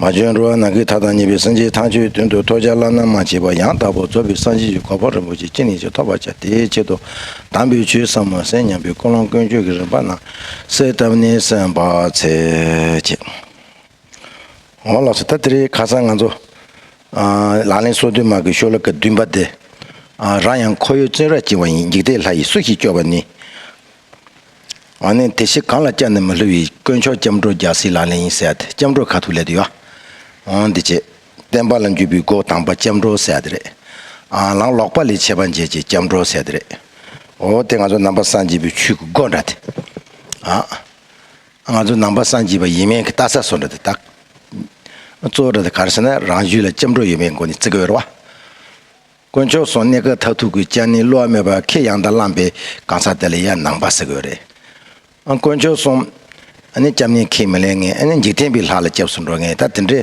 མ་བྱོན་འགྲོ་བ་ནང་གི་མཐའ་དང་གཉིས་པའི་སེམས་ཅན་ཐམས་ཅད་མདུན་དུ་ཐོ་ཅག་བླ་ན་མ་མཆིས་པ་ཡང་དག་པར་རྫོགས་པའི་སངས་རྒྱས་ཀྱི་གོ་འཕང་རིན་པོ་ཆེ་ཅི་ནས་ཀྱང་ཐོབ་པར་བྱ་དེའི་ཆེད་དུ་དམ་པའི་ཆོས་ཟབ་མོ་གསན་སྙམ་པའི་ཀུན་སློང་ཀུན་སྤྱོད་ཀྱི་རིམ་པ་ནང་གསལ་བཏབ་ནས་གསན་པར་འཚལ། ཅེས་འོ་ལགས་སོ་ད་དེ་རིང་ཁ་སང་ང་ཚོ་ལག་ལེན་སོ་བདུན་མར་གྱི་ཤོ་ལོ་ཀ་བདུན་པ་དེ་རང་ཡང་ཁོ་ཡོད་བཙོན་རར་བསྐྱིལ་བ་ཡིན་འཇིག་ལྟས་ལྷ་ཡིས་སུ་ཞིག་སྐྱོབ་པ་ནི། ཨ་ནེ་དེ་ཤི་གང་ལ་སྐྱབས་ནས་མི་ལྷུ་བའི་དཀོན་མཆོག་སྐྱབས་འགྲོ་རྒྱ་སྲིད་ལག་ལེན་ཡིན་ཟེར་ཡ་དེ་སྐྱབས་འགྲོ་ཁ་ཐུག་ལས་དུ་ཡོ་ཨང་འདི་བྱེད་བསྟན་པ་ལ་འཇུས་པའི་སྒོ་དང་པ་སྐྱབས་འགྲོ་ཟེར་ཡ་དེ་རེད་ཨང་ལང་ལོག་པ་ལས་ཆད་པ་འཇལ་བྱེད་སྐྱབས་འགྲོ་ཟེར་དེ་རེད་ཨོ་དེ་ང་ཚོ་ནང་པ་སངས་རྒྱས་པའི་ཆོས་ཀྱི་སྒོ་འདྲ་དེ་ཨང་ང་ཚོ་ནང་པ་སངས་རྒྱས་པ་ཡིན་མིན་གྱི་ལྟ་ས་སོ་འདྲ་དེ་དག་གཙོ་བོ་འདྲ་དེ་ག་རེ་ཟེར་ན་རང་རྒྱུད་ལ་སྐྱབས་འགྲོ་ཡོད་མེད་སྒོ་ནས་བརྩི་གི་ཡོད་རེད་བ། དཀོན་མཆོག་སོང་གནས་སྐབས་མཐར་ཐུག་གི་སྤྱན་ནི་བསླུ་བ་མེད་པར་ཁེ་ཡང་དང་བླངས་པའི་གང་ཟག་དེ་ལ་ཡང་ནང་པ་ཟེར་དགོས་རེད་ཨང། དཀོན་མཆོག་སོང་ཨ་ནི་སྐྱབས་གནས་ཁས་མི་ལེན་ངེས་ཨ་ནི་འཇིག་རྟེན་པའི་ལྷ་ལ་སྐྱབས་སུ་འགྲོ་ངེས་ད་དེ་འདྲའི་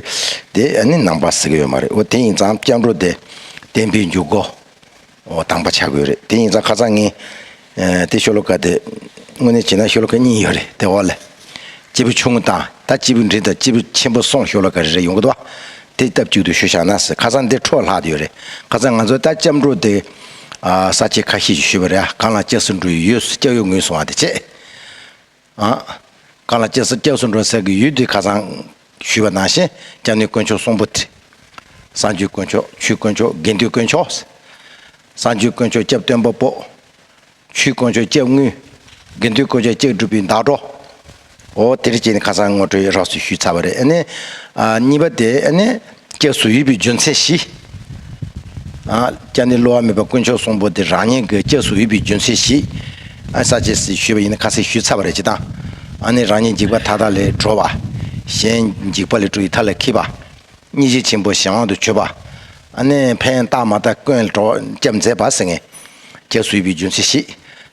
དེ་ཨ་ནི་ནང་པ་ཟེར་གི་ཡོད་མ་རེད་འོ་དེ་ཡིན་ཙང་སྐྱབས་འགྲོ་དེ་བསྟན་པའི་འཇུག་སྒོ་འོ་དང་པ་ཆགས་དགོས་རེད་དེ་ཡིན་ཙང་ཁ་ཚང་ངས་དེ་ཤོ་ལོ་ཀ་དེ་དངོས་གནས་བྱས་ན་ཤོ་ལོ་ཀ་གཉིས་ཡོད་རེད་དེ་འོག་ལ། སྤྱིལ་བུ་ཆུང་ངུ་དང་ད་སྤྱིལ་བུ་འབྲིང་དང་སྤྱིལ་བུ་ཆེན་པོ་སོང་ཤོ་ལོ་ཀ་རེ་རེ་ཡོང་གི་འདུག་བ། དེ་སྟབས་ཅིག་ཏུ་ཤོ་བཞག་ན་ཟེར་ཁ་སང་འདིར་འཕྲོ་ལྷག་དུ་ཡོད་རེད་ཁ་སང་ང་ཚོ་ད་སྐྱབས་འགྲོ་དེ། ས་བཅད་ཁ་ཤས་ཀྱིས་ཤོད་པ་རེད་ཨ་གང་ལ་སྐྱག་སེར་འབྲུ་ཡོད་སྐྱག་ཡོད་ངུས་སོང་བ་དེ་བྱས། གང་ལ་སྐྱེལ་ས་སྐྱེལ་སོང་འགྲོ་ཟེར་གི་ཡུལ་དེ་ཁ་སང། ཞུས་པ་ནང་བཞིན་སྐྱབས་གནས་དཀོན་མཆོག་གསུང་པོ་ཏི། བསང་ཆུའི་དཀོན་མཆོག་ཆུའི་དཀོན་མཆོག་དགེ་འདུན་དཀོན་མཆོག། བསང་ཆུའི་དཀོན་མཆོག་སྐྱབས་སྟོན་པ་པོ། ཆུའི་དཀོན་མཆོག་སྐྱབས་དངུལ། དགེ་འདུན་དཀོན་མཆོག་སྐྱབས་སྒྲུབ་པའི་བདག་འགྲོ། འོ་དེར་བྱས་ནས་ཁ་སང་ངོ་སྤྲོད་རགས་སུ་ཞུས་ཚར་བ་རེད་ཨ་ནི། གཉིས་པ་དེ་ཨ་ནི། སྐྱབས་སུ་ཡོད་པའི་རྒྱུ་མཚན་བཞི། སྐྱབས་ནི་བསླུ་བ་མེད་པ་དཀོན་མཆོག་གསུམ་པོ་དེ་རང་ཉིད་ཀྱི་སྐྱབས་སུ་ཡོད་པའི་རྒྱུ་མཚན་བཞི། ས་བཅད་ཟིག་ཞུས་པ་ཡིན་ན་ཁ་ཟིག་ཞུས་ཚར་བ་རེད་ཅེས་དང། ཨ་ནི་རང་ཉིད་འཇིགས་པ་མཐའ་དག་ལས་གྲོལ་བ། གཞན་འཇིགས་པ་ལས་གྲོལ་བའི་མཐའ་ལ་འཁྱིལ་པ། གཉིས་གཞི་ཆེན་པོ་གཞན་དབང་དུ་ཆོད་པ། ཨ་ནི་ཕན་བཏགས་མ་བཏགས་ཀུན་སྐྱབས་མཛད་པ། སྐྱབས་སུ་ཡོད་པའི་རྒྱུ་མཚན་བཞི།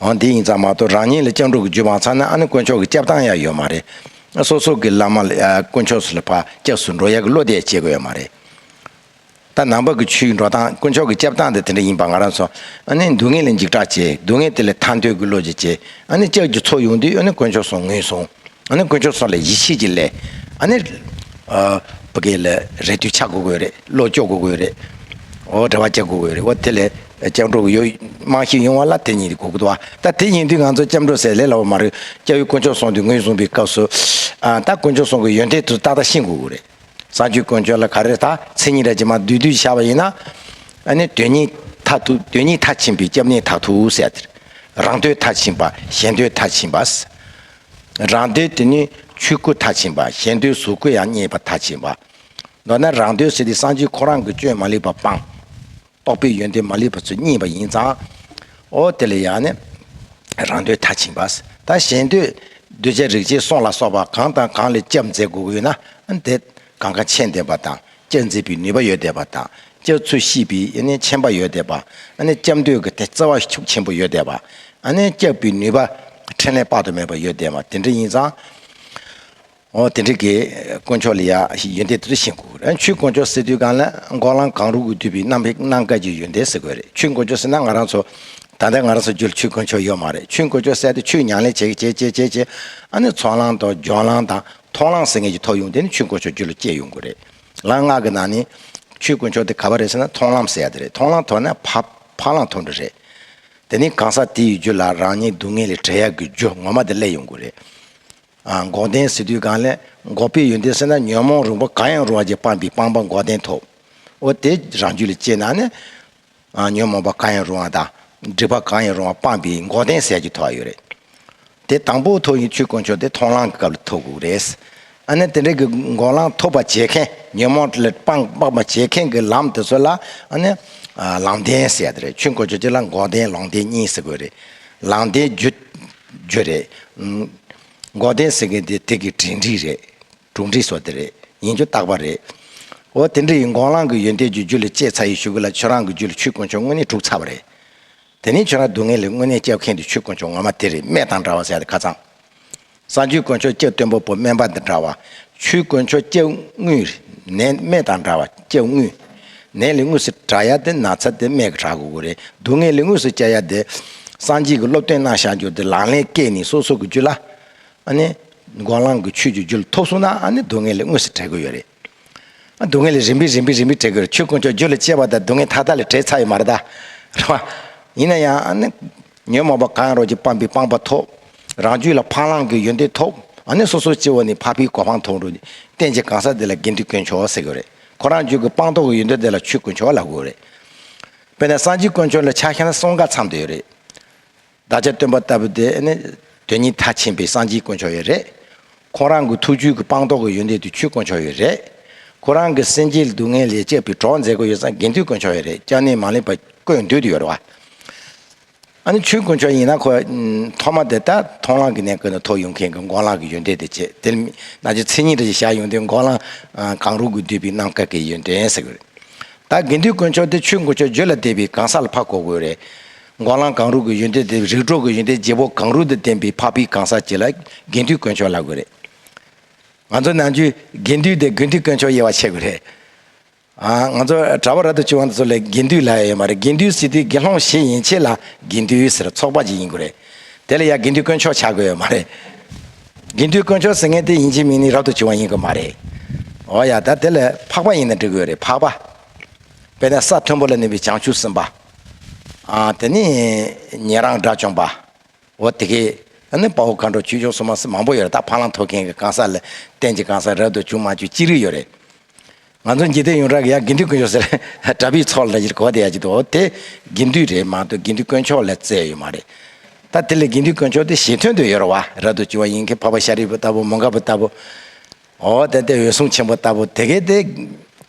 འོན་དེ་ཡིན་ཙང་མ་གཏོགས་རང་ཉིད་ལ་སྤྱང་ཕྲུག་གི་རྒྱུད་མང་ཚར་ན་ཨ་ནི་དཀོན་མཆོག་གི་སྐྱབས་སྟངས་ཡང་ཡོད་མ་རེད། སོ་སོ་གི་བླ་མ་དཀོན་མཆོག་སུ་ལ་བག་སྐྱབས་སུ་འགྲོ་ཡག་གི་བློ་དེ་ཡང་བྱེད་དགོས་ཡོད་མ་རེད། ད་ནང་པ་ཀི་ཆུའི་འགྲོ་སྟངས་དཀོན་མཆོག་གི་སྐྱབས་སྟངས་དེ་དེ་འདྲ་ཡིན་པ་ང་རང་ཚོ་ཨ་ནི་སྡུག་བསྔལ་ལས་འཇིགས་སྐྲག་བྱེད་སྡུག་བསྔལ་དེ་ལས་ཐར་འདོད་ཀི་བློ་གཅིག་བྱེད་ཨ་ནི་ལྕགས་ཀྱི་ཚོགས་ཡོང་དུས་ཨ་ནི་དཀོན་མཆོག་སོང་ངུས་སོང་ཨ་ནི་དཀོན་མཆོག་སོང་ལ་ཡིད་ཆེས་ཀྱི་ལས་ཨ་ནི་པ་ཀི་ལ་རེ་དུས་ཆག་དགོས་གི་ཡོད་རེད་བློ་སྐྱོ་དགོས་གི་ཡོད་རེད་འོ་འདྲ་བ་བྱེད་དགོས་གི་ཡོད་རེད་འོ་དེ་ལས་སྐྱབས་འགྲོ་གི་ཡོ། རྨང་གཞི་ཡོང་བ་ལ་དེ་ཉིད་དགོས་ཀྱི། ད་དེ་ཡིན་དུས་ང་ཚོ་སྐྱབས་འགྲོ་ཟེར་ལེ་ལ་བ་མ་རེད། སྐྱབས་ཡུལ་དཀོན་མཆོག་སོང་དུས་ངོས་བཟུང་པའི་སྐབས་སུ། ད་དཀོན་མཆོག་སོང་གི་ཡོན་ཏན་དུ་ཏག་ཏག་ཤེས་དགོས་ཀྱི་རེད། གསང་སྤྱོད་དཀོན་མཆོག་ལ་ག་རེ་ད་མཚན་ཉིད་ར་ཅི་མ་བསྡུས་བསྡུས་བཞག་པ་ཡིན་ན། ཨ་ནི་དོན་གཉིས་མཐའ་དུ་དོན་གཉིས་མཐའ་ཕྱིན་པའི་སྐྱབས་གནས་དག་ཐུག་ཟེར་དེར། རང་འདོད་མཐའ་ཕྱིན་པ་གཞན་འདོད་མཐའ་ཕྱིན་པ། རང་འདོད་དེ་ནི་ཆོས་སྐུ་མཐའ་ཕྱིན་པ་གཞན་འདོད་གཟུགས་སྐུ་ཡང་རྙེད་པ་མཐའ་ཕྱིན་པ། མདོར་ན་རང་འདོད་ཟེར་དེ་གསང་སྤྱོད་ཁོ་རང་གི་སྤྱོད་མ་ལེགས་པ་སྤངས། རྟོགས་པའི་ཡོན་ཏན་མ་ལུས་པ་ཚོས་བརྙེས་པ་ཡིན་ཙང། ཨོ་དེ་ལ་ཡང་ནི། རང་འདོད་མཐར་ཕྱིན་པ། དང་གཞན་འདོད། གདུལ་བྱ་རིག་བྱེད་སྲོག་ལ་སོགས་པ་གང་དང་གང་ལས་སྐྱབས་མཛད་དགོས་ཀྱི་ན། དེ། གང་ག་མཆན་འདེབས་པ་དང་སྐྱབས་མཛད་པའི་ནུས་པ་ཡོད་བསྡད་པ་དང། སྐྱབས་ཚུལ་ཤེས་པའི་ཡནི་མཆན་པ་ཡོད་བསྡད་པ། ཨ་ནི་སྐྱབས་འདོད་ཀྱི་དེ་བརྩེ་བ་ཤུགས་ཆེན་པོ་ཡོད་བསྡད་པ། ཨ་ནི་སྐྱབས་པའི་ནུས་པ། ཕྲིན་ལས་དཔག་ཏུ་མེད་པ་ཡོད་བསྡད་པ་དེ་འདྲ་ཡིན་ཙང། ཨོ་དེ་འདྲ་གི། དཀོན་མཆོག་ལ་ཡང་ཡོན་ཏན་དེ་ཚོ་ཤེས་དགོས་རེད། ཆུའི་དཀོན་མཆོག་ཟེར་དུས་གང་ལ་འགོག་ལམ་གང་རུང་གི་དུས་པའི་གནམ་ཧེ་གནང་སྐབས་ཀྱི་ཡོན་ཏན་ཟེར་དགོས་རེད་ཆུའི་དཀོན་མཆོག་ཟེར་ན་ང་རང་ཚོ། ད་ལྟ་ང་རང་ཚོ་རྒྱུད་ལ་ཆུའི་དཀོན་མཆོག་ཡོད་མ་རེད་ཆུའི་དཀོན་མཆོག་བསལ་ཏེ་ཆུའི་མྱང་ལས་བྱེད་བྱེད་བྱེད་བྱེད་བྱེད་ཨ་ནི་ཚོང་ལང་དང་ལྗོངས་ལང་དང་མཐོང་ལང་ཟེར་ངེས་ཀྱི་ཐོག་ཡོང་དེ་ནི་ཆུའི་དཀོན་མཆོག་རྒྱུད་ལ་སྐྱེས་ཡོང་དགོས་རེད་ལ་ངག་གི་ནང་ནས། ཆུའི་དཀོན་མཆོག་དེ་ག་བ་རེད་ཟེར་ན་མཐོང་ལམ་ཟེར་ཡ་དེ་རེད་མཐོང་ལང་ཐོག་ན་ཕ་ཕ་ལང་ཐོག་འདྲ་རེད། དེ་ནི་གང་ཟག་དེ་ཡི་རྒྱུད་ལ་རང་ཉིད་སྡུག་བསྔལ་ལས་བྲལ་ཡག་གི་རྒྱུ་ངོ་མ་དེ་སླེབས་ཡོང་དགོས་རེད། འགོག་བདེན་ཟེར་དུས་གང་ལས་འགོག་པའི་ཡོན་ཏན་སེལ་ན་ཉོན་མོངས་རུང་བ་གང་ཡང་རུང་བ་ཅན་སྤངས་པའི་སྤངས་པ་འགོག་བདེན་ཐོབ་བོ། དེ་རང་རྒྱུད་ལ་སྐྱེས་ན་ནི། ཉོན་མོངས་པ་གང་ཡང་རུང་བ་དང། སྒྲིབ་པ་གང་ཡང་རུང་བ་སྤངས་པའི་འགོག་བདེན་ཟེར་གྱི་ཐོབ་བ་ཡོད་རེད། དེ་དང་པོ་ཐོབ་ཡིན་ཆོས་དཀོན་མཆོག་དེ་མཐོང་ལམ་གྱི་སྐབས་ལ་ཐོབ་དགོས་རེད། ཨ་ནི་དེ་འདྲ་གི་འགོག་ལམ་ཐོབ་པར་བྱེད་མཁན་ཉོན་མོངས་ལས་སྤངས་པར་བྱེད་མཁན་གྱི་ལམ་དེ་ཚོ་ལ་ཨ་ནི། ལམ་བདེན་ཟེར་ཏེ་རེད་ཆོས་དཀོན་མཆོག་སྤྱི་ལ་འགོག་བདེན་ལོང་བདེན་གཉིས་ཟེར་དགོས་རེད། ལམ་བདེན་རྒྱུ། རྒྱུ་རེད། མགོ་བསྟན་ཟེར་མཁན་དེ་དེ་གི་དྲིན་འདྲིས་རེད། དྲུང་འདྲིས་སོགས་དེ་རེད། ཡིན་རྒྱུ་རྟག་པ་རེད། འོ་དེ་འདྲ་ཡིན་མགོ་རླངས་གི་ཡོན་ཏན་གྱི་རྒྱུ་ལས་གཅེས་ཚ་ཡི་ཞུ་གི་ལ་ཁྱོད་རང་གི་རྒྱུ་ལ་ཆུ་དཀོན་མཆོག་དངོས་གནས་དཀྲུགས་ཚར་བ་རེད། དེ་ནི་ཁྱོད་རང་སྡུག་བསྔལ་ལས་དངོས་གནས་སྐྱབས་མཁན་དེ་ཆུ་དཀོན་མཆོག་ངོ་མ་དེ་རེད་སྨད་དང་འདྲ་བ་ཟེར་ཡ་དེ་ཁ་ཚང། སང་ཆུ་དཀོན་མཆོག་སྐྱབས་བསྟན་པོ་པོ་སྨན་པ་དང་འདྲ་བ། ཆུ་དཀོན་མཆོག་སྐྱབས་དངུལ། ནས་སྨད་དང་འདྲ་བ་སྐྱབས་དངུལ། ནད་ལས་དངོས་སུ་དྲག་ཡ་དེ་ན་ཚ་དེ་སྨད་གི་དྲག་དགོས་གི་རེད་སྡུག་བསྔལ་ལས་དངོས་སུ་སྐྱ་ཡ་དེ། སངས་རྒྱས་ཀྱི་སློབ་སྟོན་གནང་བཞག་རྒྱུ་དེ་ལག་ལེན་སྐས་ནི་སོ་སོ་གི་རྒྱུད་ལ། ཨ་ནི། འགོག་ལངས་ཀྱི་ཆོས་ཀྱི་རྒྱུད་ལ་ཐོབ་སོང་ན་ཨ་ནི་སྡུག་བསྔལ་ལས་དངོས་སུ་བྲལ་གི་ཡོད་རེད། སྡུག་བསྔལ་ལས་རིམ་པས་རིམ་པས་རིམ་པས་བྲལ་གི་རེད་ཆོས་དཀོན་མཆོག་རྒྱུད་ལ་སྐྱེ་བ་དང་སྡུག་བསྔལ་མཐའ་དག་ལས་བྲལ་ཚར་ཡོད་མ་རེད་དཱ། རེད་པ། ཡིན་ན་ཡང་ཨ་ནི། ཉོན་མོངས་པ་གང་ཡང་རོ་གཅིག་སྤངས་པའི་སྤངས་པ་ཐོབ། རང་རྒྱུད་ལ་འཕང་བླང་གི་ཡོན་ཏན་ཐོབ། ཨ་ནི་སོ་སོའི་སྐྱེ་བོ་ནི་འཕགས་པའི་གོ་འཕང་ཐོབ་འགྲོ། བསྟན་བྱའི་གང་ཟག་དེ་ལ་དགེ་འདུན་དཀོན་མཆོག་ཟེར་གི་རེད། ཁོ་རང་རྒྱུད་ཀྱི་སྤངས་རྟོགས་ཀྱི་ཡུལ་འདི་དེ་ལ་ཆོས་དཀོན་མཆོག་ལ་དགོས་རེད། དཔེར་ན་སངས་རྒྱས་དཀོན་མཆོག་ལ་ཕྱག་ཤ་ན་སོང་ག་ཚང་དུ་ཡོད་རེད། བདག་ཅག་སྟོན་པ་ལྟ་བུ་དེ་ནི་དོན་གཉིས་མཐའ་ཕྱིན་པའི་སངས་རྒྱས་དཀོན་མཆོག་ཡོད་རེད། ཁོང་རང་གི་ཐུགས་རྒྱུད་ཀྱི་སྤངས་རྟོགས་ཀྱི་ཡུལ་འདི་དུ་ཆོས་དཀོན་མཆོག་ཡོད་རེད། ཁོ་རང་གི་སེམས་ཀྱི་སྡུག་བསྔལ་ལས་བཅས་པའི་གྲོགས་མཛད་སྒོ་ཡོད་ས་དགེ་འདུན་དཀོན་མཆོག་ཡོད་རེད་ཅང་ནི་མ་ལེགས་པ་ཀོས་འདུས་དུ་ཡོད་རེད་བ། ཨ་ནི་ཆོས་དཀོན་མཆོག་ཡིན་ན་ཁོ་ཐོག་མ་དེ་ད་མཐོང་ལག་གི་ནས་བཀོད་ན་ཐོག་ཡུམ་མཁན་གི་འགོང་ལག་གི་ཡོན་ཏན་དེ་བྱེད་དེར་མི་ནག་ཆུ་མཚན་ཉིད་རེ་ཞིག་བཞག་ཡོང་དུས་འགོང་ལག་གང་རུང་གིས་བསྡུས་པའི་གནམ་ཁ་གི་ཡོན་ཏན་ཟེར་གི་རེད། ད་དགེ་འདུན་དཀོན་མཆོག་དེ་ཆོས་དཀོན་མཆོག་བརྗོད་ལ་དད་པའི་གང་ཟག་ལ་ཕ་གོ་དགོས་རེད། འགོང་ལག་གང་རུང་གི་ཡོན་ཏན་དེ་རིགས་གྲོགས་ཀྱི་ཡོན་ཏན་བརྗེ་བོ་གང་རུང་དུ་བསྟན་པའི་འཕགས་པའི་གང་ཟག་གཅིག་ལ་དགེ་འདུན་དཀོན་མཆོག་ལབ་དགོས་རེད། ང་ཚོ་ནང་ཆོས་དགེ་འདུན་དེ་དགེ་འདུན་དཀོན་མཆོག་དབྱེ་བ་ཕྱེ་དགོས་རེད། ང་ཚོ་གྲྭ་བ་ར་ཏུ་བྱུང་བ་འདི་ཚོ་ལས་དགེ་འདུས་ལ་ཡོད་མ་རེད་དགེ་འདུས་སྲིད་དུས་དགེ་སློང་བཞི་ཡིན་ཕྱེད་ལ་དགེ་འདུས་ཟེར་ཚོགས་པ་ཅིག་ཡིན་དགོས་རེད་དེ་ལ་ཡང་དགེ་འདུས་དཀོན་མཆོག་བྱ་དགོས་ཡོད་མ་རེད་དགེ་འདུས་དཀོན་མཆོག་ཟེར་མཁན་དེ་ཡིན་གྱི་མིན་ནི་རབ་ཏུ་བྱུང་བ་ཡིན་དགོས་མ་རེད་འོ་ཡ་ད་དེ་ལས་འཕགས་པ་ཡིན་ན་འགྲིག་དགོས་རེད་འཕགས་པ་དཔེར་ན་ས་མཐོན་པོ་ལ་གནས་པའི་བྱང་ཆུབ་སེམས་དཔའ་དེ་ནི་ཉན་རང་དགྲ་བཅོམ་པ་འོ་དེ་གས་ད་ནི་དཔའ་བོ་མཁའ་འགྲོ་ཁྱུ་མཆོག་སོ་མ་སི་མང་པོ་ཡོད་རེད་ད་ཕ་ལང་ཐོ་མཁན་གྱི་གང་ཟག་ལ་བསྟན་གྱི་གང་ཟག་རབ་ཏུ་བྱུང་མ་བཅུ་གཅིག་རིགས་ཡོད་རེད། ང་ཚོ་འཇིག་རྟེན་ཡོངས་གྲགས་ཀྱི་ཡང་དགེ་འདུན་དཀོན་མཆོག་ཟེར་གྲྭ་པའི་ཚོགས་ལ་གོ་བདེ་ཡག་ཅིག་འདུག་དེ་དགེ་འདུན་རེད་མ་གཏོགས་དགེ་འདུན་དཀོན་མཆོག་ལས་བཙལ་ཡོད་མ་རེད། ད་དེ་ལས་དགེ་འདུན་དཀོན་མཆོག་དེ་ཞེ་འཐོན་དུ་ཡོད་ར་བ་ར་འདུག་ཅི་བ་ཡིན་གྱི་འཕགས་པ་ཤཱ་རིའི་བུ་ལྟ་བུ་མོ་འགའ་བུ་ལྟ་བུ། འོ་དེ་དེ་འོད་སྲུང་ཆེན་པོ་ལྟ་བུ་དེ་གས་དེ་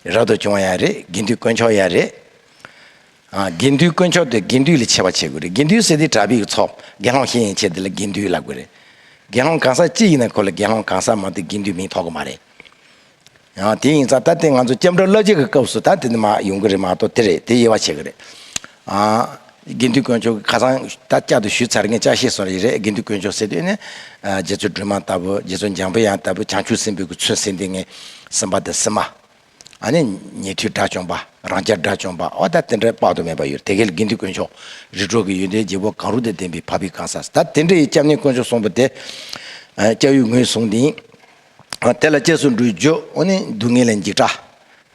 ར་འདུག་བྱུང་བ་ཡང་རེད་དགེ་འདུན་དཀོན་མཆོག་ཡང་རེད། ཨ་དགེ་འདུན་དཀོན་མཆོག་དེ་དགེ་འདུན་ལས་ཆེ་བ་བྱེད་དགོས་རེད་དགེ་འདུན་ཟེར་དེ་གྲྭ་པའི་ཚོགས་དགེ་སློང་ཤེས་ཡིན་ཆེད་དེ་ལ་དགེ་འདུན་ལབ་དགོས་རེད། དགེ་སློང་གང་ཟག་གཅིག་ཡིན་ན་ཁོ་ལ་དགེ་སློང་གང་ཟག་མ་གཏོགས་དགེ་འདུན་མིང་ཐོགས་གི་མ་རེད། ཡང་དེ་ཡིན་ཙང་ད་དེ་ང་ཚོ་སྐྱབས་འགྲོ་བླ་སྤྱི་གི་སྐབས་སུ་ད་དེ་འདི་མ་ཡོང་གི་རེད་མ་གཏོགས་དེ་རེད་དེ་དབྱེ་བ་ཕྱེ་གི་རེད། དགེ་འདུན་དཀོན་མཆོག་གི་ཁ་སང་ད་བསྐྱར་དུ་ཞུས་ཚར་ངས་བསྐྱར་བཤད་སོང་རེད་རེད་དགེ་འདུན་དཀོན་མཆོག་ཟེར་དུས་ནས་རྗེ་བཙུན་སྒྲོལ་མ་ལྟ་བུ་རྗེ་བཙུན་འཇམ་དཔལ་དབྱངས་ལྟ་བུ་བྱང་ཆུབ་སེམས་དཔའི་གུ་ཚུལ་ཟེར་འདི་ངས་སེམས་པ་དང་སེམས་མ། ཨ་ནི་ཉེ་དུས་དགྲ་བཅོམ་པ་རང་སྐྱ་དགྲ་བཅོམ་པ་ཨོ་ད་དེ་འདྲ་དཔག་ཏུ་མེད་པ་ཡོད་རེད་དེ་གལ་དགེ་འདུན་དཀོན་མཆོག་རི་གྲོག་གི་ཡོན་ཏན་རྒྱལ་པོ་གང་རུང་དང་ལྡན་པའི་ཕ་བི་གང་ཟག་ཟེར་ད་དེ་འདྲ་ཡི་སྐྱབས་གནས་དཀོན་མཆོག་གསུངས་པ་དེ་སྐྱབས་ཡུལ་ངོས་བཟུང་དིང། དེ་ལ་སྐྱེས་སུ་འགྲོའི་རྒྱུ་འོ་ནི་སྡུག་བསྔལ་ལ་འཇིགས་སྐྲག།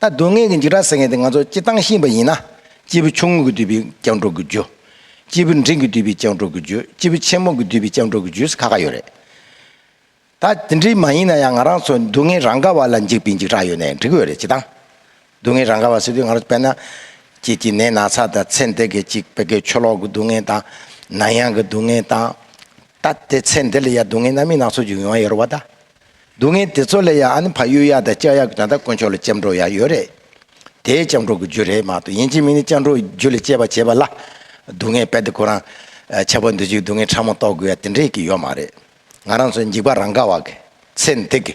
ད་སྡུག་བསྔལ་གྱི་འཇིགས་སྐྲག་ཟེར་མཁན་དེ་ང་ཚོ་སྤྱིར་བཏང་ཤེས་པ་ཡིན་ན། སྐྱེས་བུ་ཆུང་ངུ་གིས་བསྡུས་པའི་སྐྱབས་འགྲོ་དགུའི་རྒྱུ། སྐྱེས་བུ་འབྲིང་གིས་བསྡུས་པའི་སྐྱབས་འགྲོ་དགུའི་རྒྱུ་སྐྱེས་བུ་ཆེན་མོ་གིས་བསྡུས་པའི་སྐྱབས་འགྲོ་དགུའི་རྒྱུ་ཁ་ཁ་ཡོད་རེད། ད་དེ་འདྲའི་མ་ཡིན་ན་ཡང་ང་རང་ཚོ་སྡུག་བསྔལ་རང་ག་བ་ལ་འཇིགས་པའི་འཇིགས་སྐྲག་ཡོད་ནའི་འགྲིག་གི་ཡོད་རེད་སྤྱིར་བཏང། སྡུག་བསྔལ་རང་ག་བ་ཟེར་དུས་ང་རང་དཔེར་ན། ཁྱེད་ཀྱིས་ནད་ན་ཚ་དང་ཚེ་འདས་སྐད་ཅིག་བད་ཀན་ཆུ་ལོག་གི་སྡུག་བསྔལ་དང། ནང་གཡང་གི་སྡུག་བསྔལ་དང། ད་དེ་ཚེ་འདི་ལ་ཡང་སྡུག་བསྔལ་རྣམ་གཡེང་ནག་ཚོགས་འཇུག་ཡོང་ཡ་རོ་བ་ད། སྡུག་བསྔལ་དེ་ཚོ་ལས་ཡང་ཨ་ནི་ཕ་གཡུ་ཡག་དང་ལྕགས་ཡག་གི་ད་ལྟ་དཀོན་མཆོག་ལ་སྐྱབས་འགྲོ་ཡག་ཡོད་རེད། དེ་སྐྱབས་འགྲོ་གི་རྒྱུ་རེད་མ་གཏོགས་ཡིན་གཅིག་མིན་ནི་སྐྱབས་འགྲོ་རྒྱུ་ལས་སྤྱད་པ་བྱེད་པ་ལ། སྡུག་བསྔལ་དཔེ་དེ་ཁོ་རང། ཆགས་པ་འདུ་བྱེད་ཀྱི་སྡུག་བསྔལ་ཕྲ་མོ་རྟོགས་དགོས་ཡ་དེ་འདྲས་ཀྱི་ཡོད་མ་རེད། ང་རང་ཚོ་འཇིགས་པ་རང་ག་བ་གི། ཚེ་འདི་གི།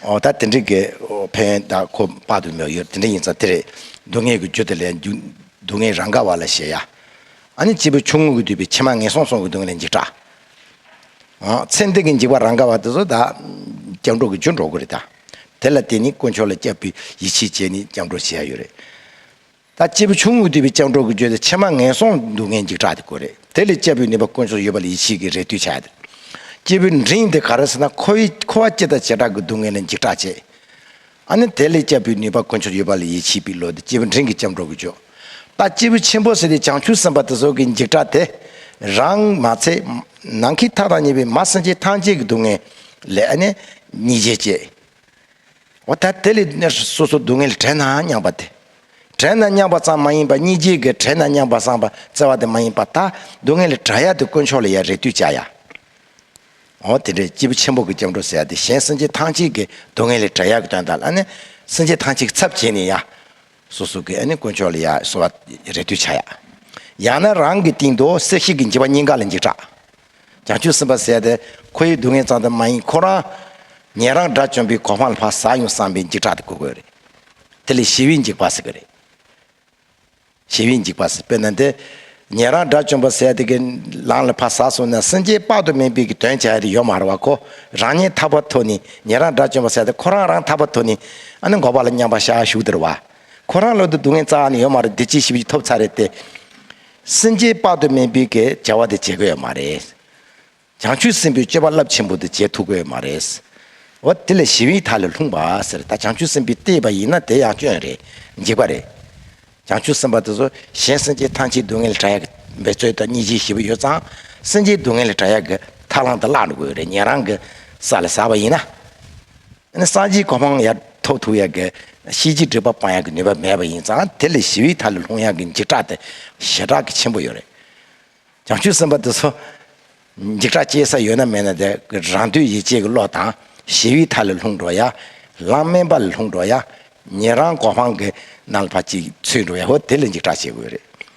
ད་དེ་འདྲའི་དགེ་ཕན་ད་ཁོ་དཔག་ཏུ་མེད་ཡོད་དེ་འདྲ་ཡིན་ཙང་དེ་རེད་སྡུག་བསྔལ་གྱི་རྒྱུ་དེ་ལས་སྡུག་བསྔལ་རང་ག་བ་ལ་བཞེད་ཡ། ཨ་ནི་སྐྱེས་བུ་ཆུང་ངུ་གྱི་དུས་པའི་ཕྱི་མ་ངན་སོང་སོང་གི་སྡུག་བསྔལ་ལས་འཇིགས་སྐྲག། ཚེ་འདི་གི་འཇིགས་པ་རང་ག་བ་དེ་ཚོ་ད་སྐྱབས་འགྲོ་གི་རྒྱུ་འགྲོ་དགོས་རེད་ད། དེ་ལ་དེ་ནི་དཀོན་མཆོག་ལ་སྐྱབས་པའི་ཡིད་ཆེས་བྱས་ནས་སྐྱབས་འགྲོ་བྱེད་ཡ་ཡོད་རེད། ད་སྐྱེས་བུ་ཆུང་ངུ་དུད་པའི་ལྕགས་སྒྲོག་གིས་བརྗོད་དེ་ཕྱེ་མ་ངན་སོང་སྡུག་བསྔལ་འཇིགས་སྐྲག་དེ་ཀོ་རེད་དེ་ལས་སྐྱེས་བུའི་ནུས་པ་དཀོན་མཆོག་ཡོད་པ་ལ་ཡིད་ཆེས་ཀྱིས་རེ་ལྟོས་བྱ་དེ། སྐྱེས་བུ་འབྲིང་དེ་ག་རེ་ཟེར་ན་ཁོ་བའི་ཁོ་བ་སྐྱེ་དང་བྱེ་བྲག་གི་སྡུག་བསྔལ་ལས་འཇིགས་སྐྲག་བྱེད། ཨ་ནི་དེ་ལས་སྐྱེས་བུའི་ནུས་པ་དཀོན་མཆོག་ཡོད་པ་ལ་ཡིད་ཆེས་པའི་བློ་དེ་སྐྱེས་བུ་འབྲིང་གི་ལྕམ་སྒྲོག་གིས་བརྗོད། ད་སྐྱེས་བུ་ཆེན་པོ་ཟེར་དེ་བྱང་ཆུབ་སེམས་དཔའ་དེ་སོགས་ཀྱིས་འཇིགས་སྐྲག་དེ། རང་མ་ཚད། ནང་གི་མཐའ་དང་གཉིས་པའི་མ་སེམས་ཅན་ཐམས་ཅད་ཀྱི་སྡུག་བསྔལ་ལས་ཨ་ནི། ཉེས་བྱས་སྐྱེས། འོ་ད་དེ་ལས་སྣོད་སོ་སོ་སྡུག་བསྔལ་བྲལ་ནའང་མྱངས་པ་དེ། བྲལ་ན་མྱངས་པ་ཙམ་མ་ཡིན་པར་གཉིས་རྗེས་ཀྱི་བྲལ་ན་མྱངས་པ་སངས་པ་བཙལ་བ་དེ་མ་ཡིན་པར་ད་སྡུག་བསྔལ་ལས་གྲགས་ཡ་དེ་དཀོན་མཆོག་ལ་ཡ་རེ་ལྟོས་བཅའ་ཡ། འོ་དེ་འདྲའི་སྐྱེས་བུ་ཆེན་པོ་གི་སྐྱབས་འགྲོ་ཟེར་ཡ་དེ་གཞན་སེམས་ཅན་ཐམས་ཅད་ཀྱི་སྡུག་བསྔལ་ལས་གྲགས་ཡ་གི་དོན་དང་ལ་ནི་སེམས་ཅན་ཐམས་ཅད་ཀྱི་ཚབ་བྱས་ནས་ཡ། སོ་སོ་གི་དཀོན་མཆོག་ལ་ཡ་གསོལ་བ་རེ་ལྟོས་བྱ་ཡ། ཡང་ན་རང་གི་སྟེང་དུ་སྲེག་བྱེད་ཀྱི་འཇིགས་པ་སྙིང་ག་ལ་འཇིགས་གྲགས། ཀྱང་ཆུ་སྲིན་པ་བསད་དེ་ཁོ་ཡི་སྡུག་བསྔལ་གཙང་དོན་མ་ཡིན་ཁོ་རང་ཉན་རང་དགྲ་བཅོམ་པའི་གོ་འཕང་ལ་བག་ཟ་ཡོང་བསམ་པའི་འཇིགས་སྐྲག་དེ་ཁུར་དགོས་རེད། དེ་ལས་ཞི་བའི་འཇིགས་པ་སྲིད་གི་རེད། ཞི་བའི་འཇིགས་པ་སྲིད་དཔེར་ན་དེ་ཉན་རང་དགྲ་བཅོམ་པ་བསད་དེ་གི་ལང་ལ་བག་ཟ་སོང་ན་སེམས་ཅན་དཔག་ཏུ་མེད་པའི་གི་དོན་བྱ་ཡ་དེ་ཡོད་མ་རེད་བ་ཁོ་རང་ཉན་ཐག་པ་ཐོ་ནི་ཉན་རང་དགྲ་བཅོམ་པ་བསད་དེ་ཁོ་རང་རང་ཐག་པ་ཐོ་ནི་ཨ་ནི་འགོག་པ་ལ་མཉམ་པ་ཤ་ཤུག་དེར་བ་ཁོ་རང་བློ་དུ་སྡུག་བསྔལ་གཙང་ནི་ཡོད་མ་རེད་དེ་ཅིའི་ཞི་བ་ཅིག་ཐོབ་ཚ་རེད་དེ། སེམས་ཅན་དཔག་ཏུ་མེད་འབུལ་གྱི་བྱ་བ་དེ་བྱེད་དགོས་ཡ་མ་རེད། བྱང་ཆུབ་སེམས་དཔའི་སྤྱོད་པ་རླབས་ཆེན་པོ་དེ་བྱེད་ཐུབ་དགོས་ཡ་མ་རེད། འོ་དེ་ལས་ཞི་བའི་མཐའ་ལས་ལྷུང་བ་ཟེར་ད་བྱང་ཆུབ་སེམས་དཔའི་ལྟས་པ་ཡིན་ན་དེ་ཡང་སྐྱོན་རེད་འཇིགས་པ་རེད། བྱང་ཆུབ་སེམས་དཔའ་དེ་ཚོ་གཞན་སེམས་ཅན་ཐམས་ཅད་སྡུག་བསྔལ་ལས་བྲལ་ཡག་གི་འབད་རྩོལ་དང་གཉིས་ཆའི་ཞི་བ་ཡོད་ཙང་སེམས་ཅན་སྡུག་བསྔལ་ལས་བྲལ་ཡག་གི་ཐབས་བླང་དེ་བཀླག་འགྲོ་དགོས་རེད་ཉན་རང་གི་ས་ལ་ཟག་པ་ཡིན་ན། སངས་རྒྱས་གོ་འཕང་ཡང་ཐོབ་ཐུབ་ཡག་གི། གཤིས་ཀྱི་སྒྲིབ་པ་སྤང་ཡག་གི་ནུས་པ་མེད་པ་ཡིན་ཙང་དེ་ལས་ཞི་བའི་མཐའ་ལ་ལྷུང་ཡག་གི་འཇིགས་སྐྲག་དེ་ཞེ་དྲག་གི་ཆེན་པོ་ཡོད་རེད། བྱང་ཆུབ་སེམས་དཔའ་དེ་ཚོ། འཇིགས་སྐྲག་སྐྱེ་ས་ཡོད་ན་མེད་ན་དེ་རང་འདོད་ཡིད་བྱེད་ཀྱི་བློ་དང། ཞི་བའི་མཐའ་ལ་ལྷུང་འགྲོ་ཡ། ལམ་དམན་པ་ལ་ལྷུང་འགྲོ་ཡ། ཉན་རང་གོ་འཕང་གི་ནང་ལ་ཕ་གཅིག་ཚུད་འགྲོ་ཡ་ཧོ་དེ་ལས་འཇིགས་སྐྲག་བྱེད་དགོས་རེད།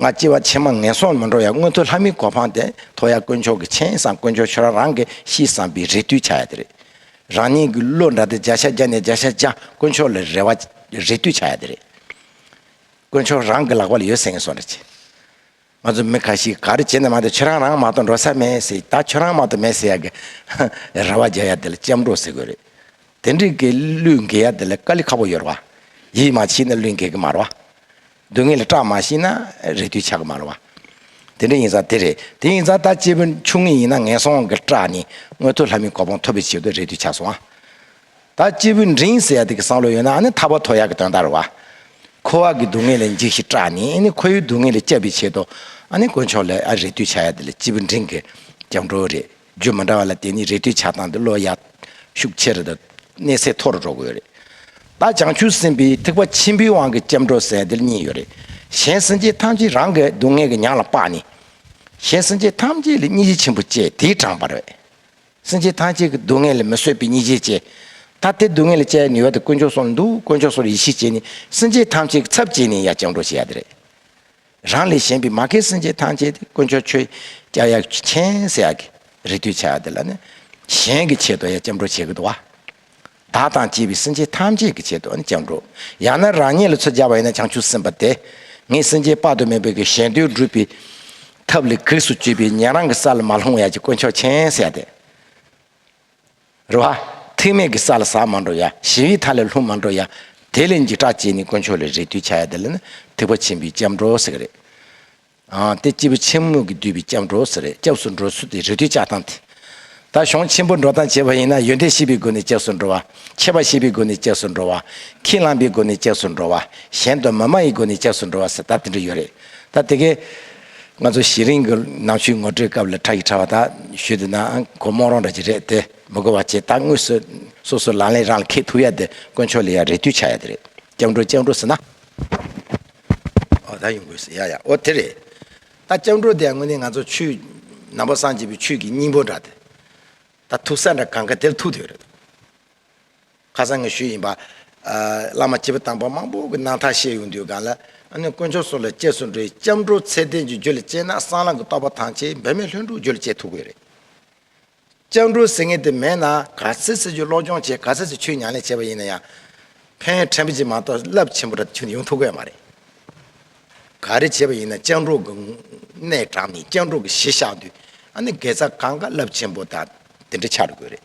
ང་སྐྱེ་བ་ཕྱི་མ་ངན་སོང་མི་འགྲོ་ཡ་སྔོན་དུ་ལྷ་མིའི་གོ་འཕང་དེ་ཐོབ་ཡ་དཀོན་མཆོག་གི་མཆན་བཟང་དཀོན་མཆོག་ཁྱོད་རང་རང་གི་གཤིས་བཟང་པའི་རེ་ལྟོས་བྱ་ཡ་དེ་རེད། རང་ཉིད་ཀྱི་བློ་འདྲ་དེ་བརྒྱ་ཆ་བརྒྱ་ནས་བརྒྱ་ཆ་བརྒྱ་དཀོན་མཆོག་ལ་རེ་བ་རེ་ལྟོས་བྱ་ཡ་དེ་རེད། དཀོན་མཆོག་རང་གི་ལག་པ་ལ་ཡོད་ཟེར་ངན་སོང་འདྲ་བྱེད། ང་ཚོ་མི་ཁ་ཤིས་ག་རེ་བྱེད་ནས་མ་ཏོ་ཁྱོད་རང་རང་མ་ཏོ་འགྲོ་ས་མེད་ཟེར་ད་ཁྱོད་རང་མ་ཏོ་མེད་ཟེར་ཡ་གི་རེ་བ་རྒྱག་ཡ་དེ་ལ་སྐྱབས་འགྲོ་ཟེར་དགོས་རེད། དེ་འདྲི་གི་གླུད་འགེལ་ཡ་དེ་ལ་དཀའ་ལས་ཁ་པོ་ཡོད་རེད་བ། ཡིད་མ་ཆེས་ན་གླུད་འགེལ་གི་མ་རེད་བ། སྡུག་བསྔལ་སྐྲག་མ་ཤེས་ན་རེ་དུས་ཆགས་མ་ར་བ། དེ་འདྲ་ཡིན་ས་དེ་རེད་དེ་ཡིན་ཙང་ད་སྐྱེས་བུ་ཆུང་ངེས་ཡིན་ན་ངན་སོང་གི་སྐྲག་ནི་མངོན་མཐོ་ལྷ་མིའི་གོ་འཕང་ཐོབ་པའི་ཕྱིར་དུ་རེ་དུས་ཆགས་སོང་ཨ། ད་སྐྱེས་བུ་འབྲིང་ཟེར་ཡ་དེ་གི་བསམ་བློ་ཡོད་ན་ནི་ཐར་བ་དོ་ཡག་གི་དོན་དག་ར་བ། འཁོར་བ་གི་སྡུག་བསྔལ་ལས་འཇིགས་ཤིག་སྐྲག་ནི་ནི་ཁོ་ཡུལ་སྡུག་བསྔལ་ལས་བསྐྱབ་པའི་ཆེད་དུ་ཨ་ནི་དཀོན་མཆོག་ལས་ཨ་རེ་དུས་ཆགས་ཡ་དེ་ལ་སྐྱེས་བུ་འབྲིང་གི་སྐྱབས་འགྲོ་རེད་རྒྱུ་མི་འདྲ་བ་ལ་དེ་ནི་རེ་ལྟོས་ཆགས་སྡང་གི་བློ་ཡར་ཤུགས་ཆེ་རུ་དང་གནས་ཚད་མཐོ་རུ་འགྲོ་གི་ཡོད་རེད། ད་བྱང་ཆུབ་སེམས་དཔའི་ཐེག་པ་ཆེན་པོའི་དབང་གི་སྐྱབས་འགྲོ་ཟས་དེར་གཉིས་ཡོད་རེད། གཞན་སེམས་ཅན་ཐམས་ཅད་རང་གི་སྡུག་བསྔལ་གྱི་ཉག་ལ་སྤགས་ནས། གཞན་སེམས་ཅན་ཐམས་ཅད་ལ་སྙིང་རྗེ་ཆེན་པོ་སྐྱེས་དེའི་དྲང་པར། སེམས་ཅན་ཐམས་ཅད་ཀྱི་སྡུག་བསྔལ་ལ་མི་བཟོད་པའི་སྙིང་རྗེ་སྐྱེས། ད་དེ་སྡུག་བསྔལ་ལ་སྐྱེ་ཡ་ནུས་བ་དེ་དཀོན་མཆོག་སོགས་ལ་འདུག་དཀོན་མཆོག་སོགས་ལ་ཡིད་ཆེས་བྱས་ནས་སེམས་ཅན་ཐམས་ཅད་ཀྱི་ཚབ་བྱས་ནས་ཡར་སྐྱབས་འགྲོ་བྱེད་ཡ་དེ་རེད། རང་ལས་གཞན་པའི་མ་མཁའི་སེམས་ཅན་ཐམས་ཅད་དེ་དཀོན་མཆོག་ཆོས་རྒྱལ་ཡབ་ཆེན་སྲས་ཀྱི་རིགས་འདུས་བྱས་འདི་ལ་ནི་གཞན་གྱི་ཆེད་དུ་ཡང་སྐྱབས་འགྲོ་བྱེད་ཀྱི་འདུག་བ། བདག་དང་བཅས་པའི་སེམས་ཅན་ཐམས་ཅད་ཀྱི་ཆེད་དུ་ནི་སྐྱབས་འགྲོ། ཡང་ན་རང་ཉིད་ལ་ཚོད་སྦྱར་བ་ཡིན་ན་བྱང་ཆུབ་སེམས་དཔའ་དེ་ངས་སེམས་ཅན་དཔག་ཏུ་མེད་པའི་གི་གཞན་དོན་སྒྲུབ་པའི་ཐབས་ལས་གེགས་སུ་གཅོད་པའི་ཉན་རང་གི་ས་ལ་མ་ལྷུང་བ་ཡབ་ཀྱི་དཀོན་མཆོག་ཆེན་སྲས་དེ། རེ་བ། ཐེག་དམན་གྱི་ས་ལ་ཟག་མ་འགྲོ་ཡ། ཞི་བའི་མཐའ་ལས་ལྷུང་མ་འགྲོ་ཡ། དེ་ལས་འཇིགས་སྐྲག་བཅད་ནས་དཀོན་མཆོག་ལ་རེ་ལྟོས་བྱ་ཡ་དེ་ལ་ནི་ཐེག་པ་ཆེན་པོའི་སྐྱབས་འགྲོ་ཟེར་གྱི་རེད། དེ་སྐྱེས་བུ་ཆེན་མོ་གིས་བསྡུས་པའི་སྐྱབས་འགྲོ་ཟེར་རེད་སྐྱབས་སུ་འགྲོ་ཚུལ་དེ་རེ་ལྟོས་བྱ་སྟངས་དེ། ད་གཞུང་ཆེན་པོ་འགྲོ་སྟངས་བྱེད་པ་ཡིན་ན་ཡོན་ཏན་ཤེས་པའི་སྒོ་ནས་སྐྱབས་སུ་འགྲོ་བ། ཁྱད་པར་ཤེས་པའི་སྒོ་ནས་སྐྱབས་སུ་འགྲོ་བ། ཁས་བླངས་པའི་སྒོ་ནས་སྐྱབས་སུ་འགྲོ་བ། གཞན་དུ་མི་སྨྲ་ཡི་སྒོ་ནས་སྐྱབས་སུ་འགྲོ་བ་ཟེར་སྟབས་དེ་འདྲ་ཡོད་རེད། ད་དེ་གའི། ང་ཚོ་གཞི་རིང་གི་ནང་ཆོས་ངོ་སྤྲོད་སྐབས་ལ་ཁྲག་གི་ཕྲ་བ་དག་ཞུས་འདུག་ནའང་ཁོ་རྨོངས་རོགས་འདྲ་ཅིག་རེད་དེ་མི་གོ་བ་ཆེ་ད་དངོས་སུ་སོ་སོ་ལག་ལེན་རང་ལ་ཁེག་ཐུབ་ཡ་དེ་དཀོན་མཆོག་ལས་ཡ་རེ་ལྟོས་ཆགས་ཡ་དེ་རེད་སྐྱབས་འགྲོ་སྐྱབས་འགྲོ་ཟེར་ན། འོ་ད་ཡོང་དགོས་ཟེར་ཡ་ཡ་འོ་དེ་རེད། ད་སྐྱབས་འགྲོ་དེ་ཡང་དངོས་གནས་ང་ཚོ་ཆོས་ནང་པ་སངས་རྒྱས་པའི་ཆོས་ཀྱི་སྙིང་པོ་འདྲ་དེ། ད་ཐུག་ས་འདྲ་གང་ག་དེར་ཐུག་དུས་རེད། ཁ་སང་གི་ཤུལ་ཡིན་པ། བླ་མ་སྤྱི་བོ་དང་པོ་མང་པོ་གི་སྣང་མཐའ་ཤེས་ཡོང་དུས་གང་ལ། ཨ་ནི་དཀོན་མཆོག་སོགས་ལ་བཅས་སུ་འགྲོ་ཡི་སྐྱབས་འགྲོ་ཚད་ལྡན་གྱི་རྒྱུད་ལ་སྐྱེས་ན་སྲང་ལམ་གྱི་རྟོགས་པ་ཐང་ཆེ་འབད་མེད་ལྷུན་གྲུབ་རྒྱུད་ལ་སྐྱེས་ཐུབ་གི་རེད། སྐྱབས་འགྲོ་ཟེར་ངེས་དེ་མེད་ན་ག་ཚད་ཚད་ཆུ་གློག་སྦྱོང་བྱས་ག་ཚད་ཚད་ཆུ་མྱང་ལས་བྱས་པ་ཡིན་ན་ཡང། ཕན་ཡོན་ཕྲན་བུ་ཅིག་མ་གཏོགས་རླབས་ཆེན་པོ་འདྲ་ཅིག་ཡོང་ཐུབ་གི་མ་རེད། ག་རེ་བྱས་པ་ཡིན་ན་སྐྱབས་འགྲོ་གི་གནས་དྲང་མིན་སྐྱབས་འགྲོ་གི་གཞི་བཞག་དུས་ཨ་ནི་དགེ་རྩ་གང་དགའ་རླབས་ཆེན་པོ་དང་དེ་འདྲ་ཆགས་འགྲོ་གི་རེད།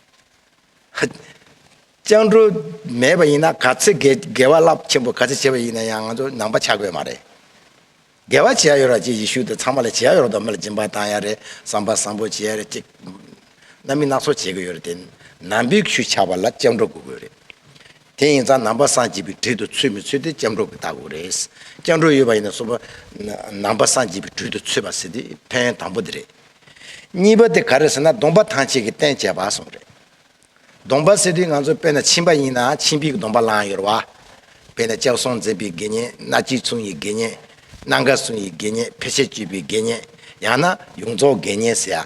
སྤྱང་གྲུང་མེད་པ་ཡིན་ན་ག་ཚོད་དགེ་བ་རླབས་ཆེན་པོ་ག་ཚོད་བྱས་པ་ཡིན་ན་ཡང་ང་ཚོ་ནང་པ་ཆགས་དགོས་མ་རེད། དགེ་བ་བྱེད་ཡ་ཡོད་ར་ཅིག་ཡེ་ཤུ་དང་ཚང་མ་ལ་བྱེད་ཡ་ཡོད་ར་དོ་མི་ལ་སྦྱིན་པ་བཏང་ཡ་རེད་བསམ་པ་བཟང་པོ་བྱེད་ཡ་རེད་ཅིག་རྣམ་སྨིན་སྣ་ཚོགས་བྱེད་དགོས་ཡོད་རེད་དེ་ནང་པའི་ཤུལ་ཆགས་པ་ལ་སྤྱང་གྲུང་དགོས་དགོས་རེད། དེ་ཡིན་ཙང་ནང་པ་སངས་རྒྱས་པའི་དྲུད་དུ་ཚུད་མི་ཚུད་དེ་སྐྱབས་འགྲོ་གི་ལྟ་གོ་རེད། སྐྱབས་འགྲོ་ཡོད་པ་ཡིན་ན་སོག་པོ། ནང་པ་སངས་རྒྱས་པའི་དྲུད་དུ་ཚུད་པ་ཟེར་དེ་ཕན་ཡོན་དང་པོ་དེ་རེད། གཉིས་པ་དེ་ག་རེད་ཟེར་ན་སྡོམ་པ་ཐང་ཆད་ཀྱི་རྟེན་བྱེད་པ་སོགས་རེད། སྡོམ་པ་ཟེར་དུས་ང་ཚོ་དཔེར་ན་ཕྱིན་པ་ཡིན་ན་ཕྱིན་པའི་སྡོམ་པ་བླངས་ཡོད་རེད། དཔེར་ན་སྐྱབས་སོང་འཛིན་པའི་དགེ་བསྙེན་སྣ་གཅིག་མཚུངས་ཡི་དགེ་བསྙེན། སྣ་འགའ་སུན་ཡི་དགེ་བསྙེན་ཕལ་ཆེར་གཅིག་པའི་དགེ་བསྙེན། ཡང་ན་ཡོངས་རྫོགས་དགེ་བསྙེན་ཟེར།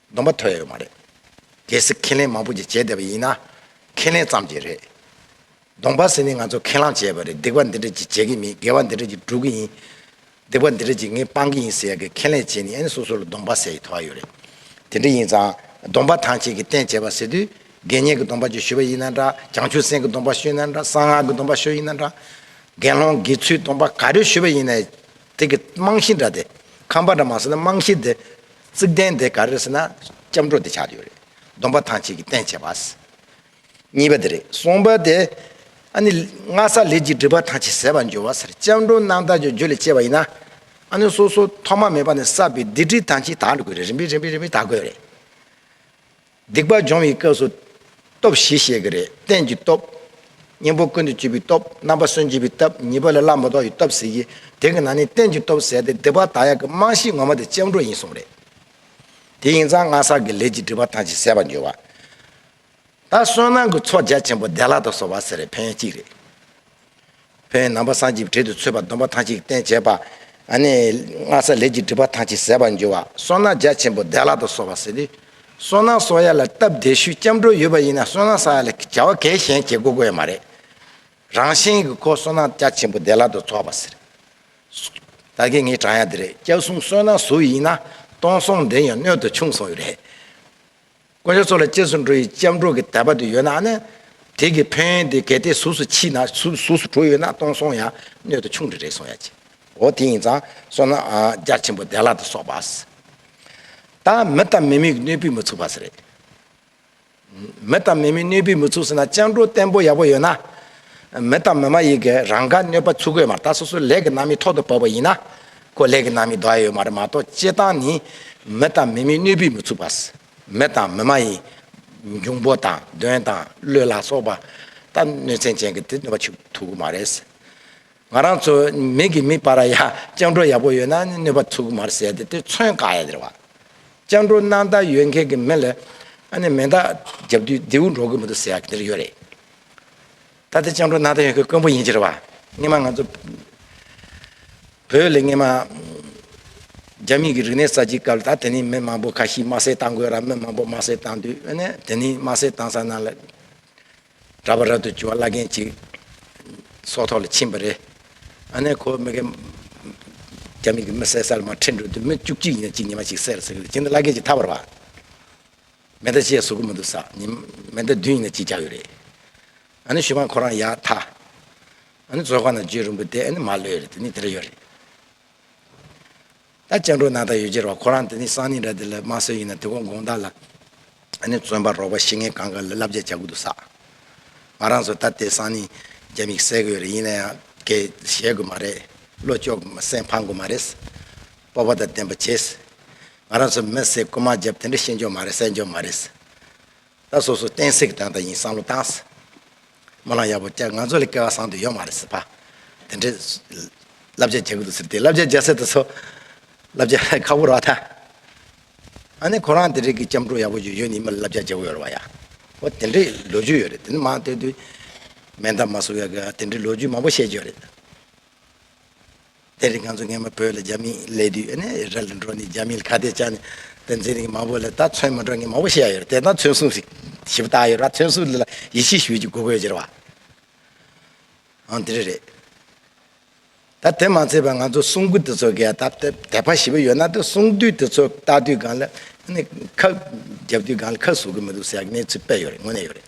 སྡོམ་པ་ཐོས་ཡོད་མ་རེད། གལ་སྲིད་ཁས་ལེན་མང་པོ་ཞིག་བྱས་བསྡད་པ་ཡིན་ན། ཁས་ལེན་ཙམ་གྱིས་རེད། སྡོམ་པ་ཟེར་ནི་ང་ཚོ་ཁས་བླངས་བྱས་པ་རེད་སྡིག་པ་འདི་འདྲ་ཅིག་བྱེད་ཀྱི་མིན་དགེ་བ་འདི་འདྲ་ཅིག་སྒྲུབ་ཀྱི་ཡིན། སྡིག་པ་འདི་འདྲ་ཅིག་ངས་སྤང་གི་ཡིན་ཟེར་ཡག་གི་ཁས་ལེན་བྱས་ནི་ཨེ་ནི་སོ་སོ་ལ་སྡོམ་པ་ཟེར་ཡི་ཐོག་ཨ་ཡོད་རེད། དེ་འདྲ་ཡིན་ཙང་སྡོམ་པ་ཐང་ཆད་ཀྱི་རྟེན་བྱས་པ་ཟེར་དུས་དགེ་བསྙེན་གྱི་སྡོམ་པ་ཅིག་ཞུ་བ་ཡིན་ན་འདྲ་བྱང་ཆུབ་སེམས་ཀྱི་སྡོམ་པ་ཞུས་ན་འདྲ་གསང་སྔགས་ཀྱི་སྡོམ་པ་ཞུ་ཡིན་ན་འདྲ། དགེ་སློང་དགེ་ཚུལ་སྡོམ་པ་ག་རེ་ཞུ་བ་ཡིན་ན། དེ་གི་རྨང་གཞི་འདྲ་སྟེ། ཁང་པ་འདྲ་མ་ཟེར་ན་རྨང་གཞི་འདི། རྩིག་གདན་དེ་ག་རེ་རེད་ཟེར་ན་སྐྱབས་འགྲོ་དེ་ཆགས་ཀྱི་ཡོད་རེད། སྡོམ་པ་ཐང་ཆད་ཀྱི་རྟེན་བྱེད་པ། གཉིས་པ་དེ་རེད། གསུམ་པ་དེ། ཨ་ནི། ངྷ་ས་ལས་ཀྱི་སྒྲིབ་པ་ཐང་ཆད་ཟེར་བ་འབྱོར་བ་སར་སྐྱབས་འགྲོ་རྣམ་དག་གྱི་རྒྱུད་ལས་སྐྱེས་པ་ཡིན་ན། ཨ་ནི་སོ་སོ་ཐོག་མ་མེད་པ་ནས་བསགས་པའི་སྡིག་སྒྲིབ་ཐང་ཆད་དག་འགྲོ་དགོས་རེད་རིམ་པས་རིམ་པས་རིམ་པས་དག་དགོས་རེད། སྡིག་པ་སྦྱོང་བའི་སྐབས་སུ། སྟོབས་བཞི་བཤད་ཀྱི་རེད་རྟེན་གྱི་སྟོབས། གཉེན་པོ་ཀུན་ཏུ་སྤྱོད་པའི་སྟོབས་རྣམ་པ་སུན་འབྱིན་པའི་སྟབས་གཉིས་པ་ལ་བླ་མ་དོག་གི་སྟོབས་ཟེར་གྱི། དེ་གི་ནང་ནས་རྟེན་གྱི་སྟོབས་ཟེར་ཏེ་སྡིག་པ་དག་ཡག་གི་རྨང་གཞི་ངོ་མ་དེ་སྤྱང་གྲུང་ཡིན་གསུངས་རེད། དེ་ཡིན་ཙང་སྔ་ས་གི་ལས་ཀྱི་སྒྲིབ་པ་ཐམས་ཅད་བསལ་བར་འགྱུར་བ། ད་བསོད་ནམས་ཀྱི་ཚོགས་རྒྱ་ཆེན་པོ་བདེ་བླག་ཏུ་གསོལ་བ་ཟེར་རེ་ཕན་ཡོན་གཅིག་རེད། བོན་རྣམ་པ་སངས་ཀྱིས་བྲིས་ཏེ་ཚུད་པ་སྡོམ་པ་ཐང་ཅིག་བསྟན་བྱེད་པ། སྔགས་ས་ལེགས་ཀྱིས་བསྒྲིགས་པ་ཐང་ཅིག་ཟད་པར་འགྱུར་བ་སོགས་ན་རྒྱ་ཆེན་པོ་བདེ་བླག་ཏུ་གསོལ་བ་ཟེར་ཏེ། སོ་ནག་གསོ་ཡ་ལ་སྟབས་བདེ་ཤོས་སྐྱབས་འགྲོ་ཡོད་པ་ཡིན་ན་སོ་ནག་གསོ་ཡ་ལ་བྱ་བ་གལ་གཞན་བྱེད་དགོས་དགོས་ཡ་མ་རེད། རང་བཞིན་གྱི་ཁོ་སོ་ནག་རྒྱ་ཆེན་པོ་བདེ་བླག་ཏུ་འཚོ་བ་ཟེར། ད་གིན་ངའི་བྲང་ཡ་འདི་རེད་སྐྱབས་གསུམ་གསོལ་ནག་ཟུར་ཡིན་ན་སྟོང་སོང་འདི་ཡང་སྣོད་དུ་ཆུང་སོང་བས་རེད། དཀོན་མཆོག་ཚོགས་ལ་གཅེར་སུ་འགྲོ་ཡི་ལྕགས་སྒྲོག་གི་དལ་བ་དེ་ཡོད་ན་ནི། དེ་གི་བོན་དེ་གལ་ཏེ་གཟུགས་སུ་མཆིས་ན་གཟུགས་སུ་གྲོ་ཡོད་ན་སྟོང་སོང་ཡང་སྣོད་དུ་ཆུང་དུ་རེག་སོང་ཡང་ཅི། འོ་དེ་ཡིན་ཙང་སོང་ན་རྒྱ་ཆེན་པོ་བདེ་བླག་ཏུ་སོགས་པ། ད་མི་དང་མི་མིག་གནོད་པས་མི་ཚུགས་པ་ཟེར། མི་དང་མི་མིག་གནོད་པས་མི་ཚུགས་ཟེར་ན་ལྕགས་སྒྲོག་བརྟན་པོ་ཡག་པོ་ཡོད་ན། མི་དང་མི་མ་ཡི་གེ་རང་དགར་གནོད་པ་ཚུགས་དགོས་མ་ད་སོ་སོའི་ལས་ཀྱི་རྣམ་དབྱེ་ཐོག་ཏུ་བབས་པ་ཡིན་ན། ཀོ་ལེགས་ནང་མི་དགའ་ཡོད་མ་རེད་མ་གཏོགས་སྤྱི་སྟངས་ནི། མི་དང་མི་མིན་གནོད་འབུས་མི་ཚུགས་པ། མི་དང་མི་མ་ཡིན། འབྱུང་པོ་དང་གདོན་དང་གླུད་ལ་སོགས་པ། ད་གནོད་ཚན་ཅན་གི་དེ་གནོད་པ་ཆུག་ཐུག་གི་མ་རེད། ང་རང་ཚོ་མིག་གིས་མི་པར་ཡ་སྤྱང་གྲོགས་ཡག་པོ་ཡོད་ན་གནོད་པ་ཚུགས་གི་མ་རེད་ཟེར་ཏེ་དེ་མཚོན་དཀའ་ཡ་དེ་རེད་བ། སྤྱང་གྲོགས་སྣང་དག་ཡོད་མཁན་གི་མི་ལ། ཨ་ནི་མེ་མདའ་རྒྱབ་དུས་རྡེའུ་འགྲོ་གི་མི་འདུག་ཟེར་ཡ་དེ་རེད་ཡོད་རེད། ད་ལྟ་སྤྱང་གྲུང་སྣང་དང་ཡོད་མཁན་དཀོན་པོ་ཡིན་ཕྱིར། སྔེ་མ་ང་ཚོ་བོད་ལས་སྔེ་མ། རྒྱ་མི་གི་རིག་གནས་གསར་བརྗེའི་སྐབས་ལ་ད་དེ་ནས་མི་མང་པོ་ཁ་ཤིས་དམར་སེར་བཏང་དགོས་ར་མི་མང་པོ་དམར་སེར་བཏང་དུས་ཨེ་ནས་དེ་ནས་དམར་སེར་བཏང་ས་ན་ལ་གྲ་པ་རབ་ཏུ་བྱུང་བ་བླ་རྒན་ཅིག་སྲོག་ཐོག་ལ་ཕྱིན་པ་རེད། ཨ་ནས་ཁོ་མི་གེ། རྒྱ་མི་གི་མི་བསད་ས་ལ་མ་ཁྲིད་འགྲོ་དུས་མི་བཅུ་གཅིག་ཡིན་ན་གཅིག་ཉི་མ་གཅིག་བསད་ར་ཟེར་གི་རེད་ཅེས་ན་བླ་རྒན་ཅིག་ཐར་བར་བ། མེ་མདའ་གཅིག་ཡང་བཟོ་གི་མི་འདུག་ས་ཉིན་མེ་མདའ་བདུན་ཡིན་ན་གཅིག་རྒྱག་གི་རེད། ཨ་ནི་ཞུ་བ་ཁོ་རང་ཡག་མཐའ། ཨ་ནི་བཙོ་ཁ་ན་བརྗོད་རིང་པོ་དེ་ཨ་ནི་མ་ལོས་རེད་དེ་ནི་དེ་འདྲ་ཡོད་རེད། ད་སྤྱང་གྲུང་ནང་དང་ཡོད་རྗེས་ར་བ་ཁོ་རང་དེ་ནི་སང་ཉིན་ར་དེ་ལ་དམའ་སོད་ཡིན་ན་དེ་གོང་དགོང་དག་ལ་ཨ་ནི་བཙོན་པ་རོགས་པ་ཤི་ངེ་གང་ག་ལ་བསླབ་བྱ་རྒྱག་གི་འདུག་ས་ང་རང་ཚོ་ད་ལྟའི་སང་ཉིན་རྒྱ་དམིགས་བསལ་གི་ཡོད་རེད་ཡིན་ན་ཡང་གས་ཞལ་དགོས་མ་རེད་བློ་ཅོག་སེམས་ཕམ་དགོས་མ་རེད། སྤོབས་པ་དང་ལྡན་པ་བྱས། ང་རང་ཚོ་མི་སེར་རྐུན་མ་རྒྱབ་དེ་འདྲ་ཤེས་འཇོག་མ་རེད་སེལ་འཇོག་མ་རེད། ད་སོ་སོ་བསྟན་སྲིད་ཀྱི་དང་ད་ཡིན་བསམ་བློ་བཏང། སྨོན་ལམ་ཡག་པོ་བསྐྱལ་ང་ཚོ་ལ་སྐལ་བ་བཟང་དུ་ཡོད་མ་རེད་ཟེར། དེ་འདྲའི་བསླབ་བྱ་རྒྱག་གི་འདུག་ཟེར་དེ་བསླབ་བྱ་རྒྱག་སའི་དུས་སུ། བསླབ་བྱ་ཁག་པོ་རག་མཐའ། ཨ་ནི་ཁོ་རང་དེ་རིགས་ཀྱི་སྐྱབས་འགྲོ་ཡག་པོ་ཞིག་ཡོད་ནི་མི་ལ་བསླབ་བྱ་རྒྱག་གི་ཡོད་རེད་བ་ཡ། ཨོ་དེ་འདྲའི་ལོ་རྒྱུས་ཡོད་རེད་དེ་ནི་མང་ལྟོས་དུས། མན་དཱ་མ་སོགས་ཡོད་དགོས་ཨ་དེ་འདྲའི་ལོ་རྒྱུས་མང་པོ་བཤད་རྒྱུ་ཡོད་རེད། དེ་རིང་ང་ཚོ་ངེད་མ་བོས་ལ་རྒྱ་མིའི་ལས་དུས་ཨེ་ནས་ཨེ་ར་ལ་འགྲོ་ནས་རྒྱ་མིའི་ལ་ཁ་གཏད་བཅག་ནས་བསྟན་འཛིན་རིང་མ་བོས་ལ་ད་ཚོན་མ་འགྲོ་ངེད་མ་བོ་ཤེས་ཡ་ཡོད་རེད་དེ་ད་ཚོན་བསུང་ཞིག་ཞིབ་བཏགས་ཡོད་ར་ཚོན་བསུ་ལ་ལ་ཡིད་ཆེས་ཞུ་རྒྱུ་དགོས་དགོས་ཅེ་ར་བ། ཨང་དེ་རེད་རེད། ད་དེ་མ་ཚད་པ་ང་ཚོ་བསུང་སྐུ་དེ་ཚོ་ག་ད་དད་པ་ཞིབ་ཡོད་ན་དེ་བསུང་དུས་དེ་ཚོ་བཏགས་དུས་སྒང་ལ་ཨེ་ནས་ཁ་རྒྱབ་དུས་སྒང་ལ་ཁ་བསུ་གི་མི་འདུག་ཟེར་ཡ་གནས་ཚུལ་དཔེ་ཡོད་རེད་དངོས་གནས་ཡོད་རེད།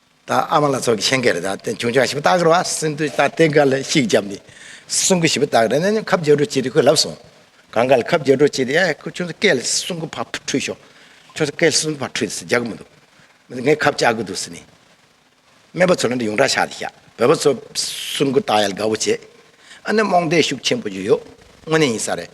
ད་ཨ་མ་ལ་ཚོགས་ཀྱི་ཆེན་ཁེ་རེ་ད་ཆུང་ཆུང་ཞིབ་བཏགས་ཀི་རོ་ཨ་སིན་དུ་ད་ཏེ་ག་ལ་ཤིག་བརྒྱབ་ནི་སུང་གི་ཞིབ་བཏགས་རེ་ན་ནི་ཁབ་རྒྱ་གྲོ་ཅི་རི་ཁོས་ལབ་སོང་གང་ག་ལ་ཁབ་རྒྱ་གྲོ་ཅི་རི་ཨ་ཁོས་ཆུང་ས་སྐལ་ལ་སུང་གི་ཕ་ཕུ་ཁྲུས་ཤོག་ཆུང་ས་སྐལ་སུང་གི་ཕ་ཁྲུས་ཟེར་རྒྱག་གི་མི་འདུག་མི་ཚོ་ངས་ཁབ་བཅག་གི་འདུག་ཟེར་ནི། སྨད་པ་ཚོ་ལ་འདི་ཡོངས་གྲགས་ཆགས་ཏེ་བཞག་བོད་པ་ཚོ་སུང་གི་བཏགས་ཡ་ལ་དགའ་བོ་བྱེད་ཨ་ནི་རྨོངས་དད་ཤུགས་ཆེན་པོ་ཞིག་ཡོད་དངོས་གནས་ཡིན་ས་རེད།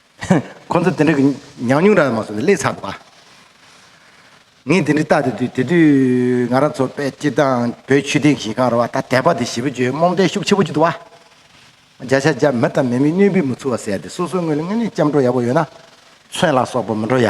ཁོ་ཚོ་དེ་འདྲ་གི་ཉམས་མྱོང་རག་མ་སོང་བས་ལས་ཚར་བ། ངས་དེ་འདྲ་བལྟ་དེ་དུས་དེ་དུས་ང་རང་ཚོ་དཔལ་སྐྱིད་དང་བོད་ཆོས་སྡིངས་ཞིང་ཁང་ར་བ་ད་དད་པ་དེ་ཞི་བུ་བརྗོད་རྨོངས་དད་ཤུགས་ཆེ་པོ་ཅིག་འདུག་བ། བརྒྱ་ཆ་བརྒྱ་མི་དང་མི་མི་གནོད་འབུད་མི་ཚུགས་བ་བསལ་ཏེ་སོ་སོའི་ངོས་ལ་དངོས་གནས་སྐྱབས་འགྲོ་ཡག་པོ་ཡོད་ན། མཚོན་ལ་སོགས་པ་མི་འགྲོ་ཡ།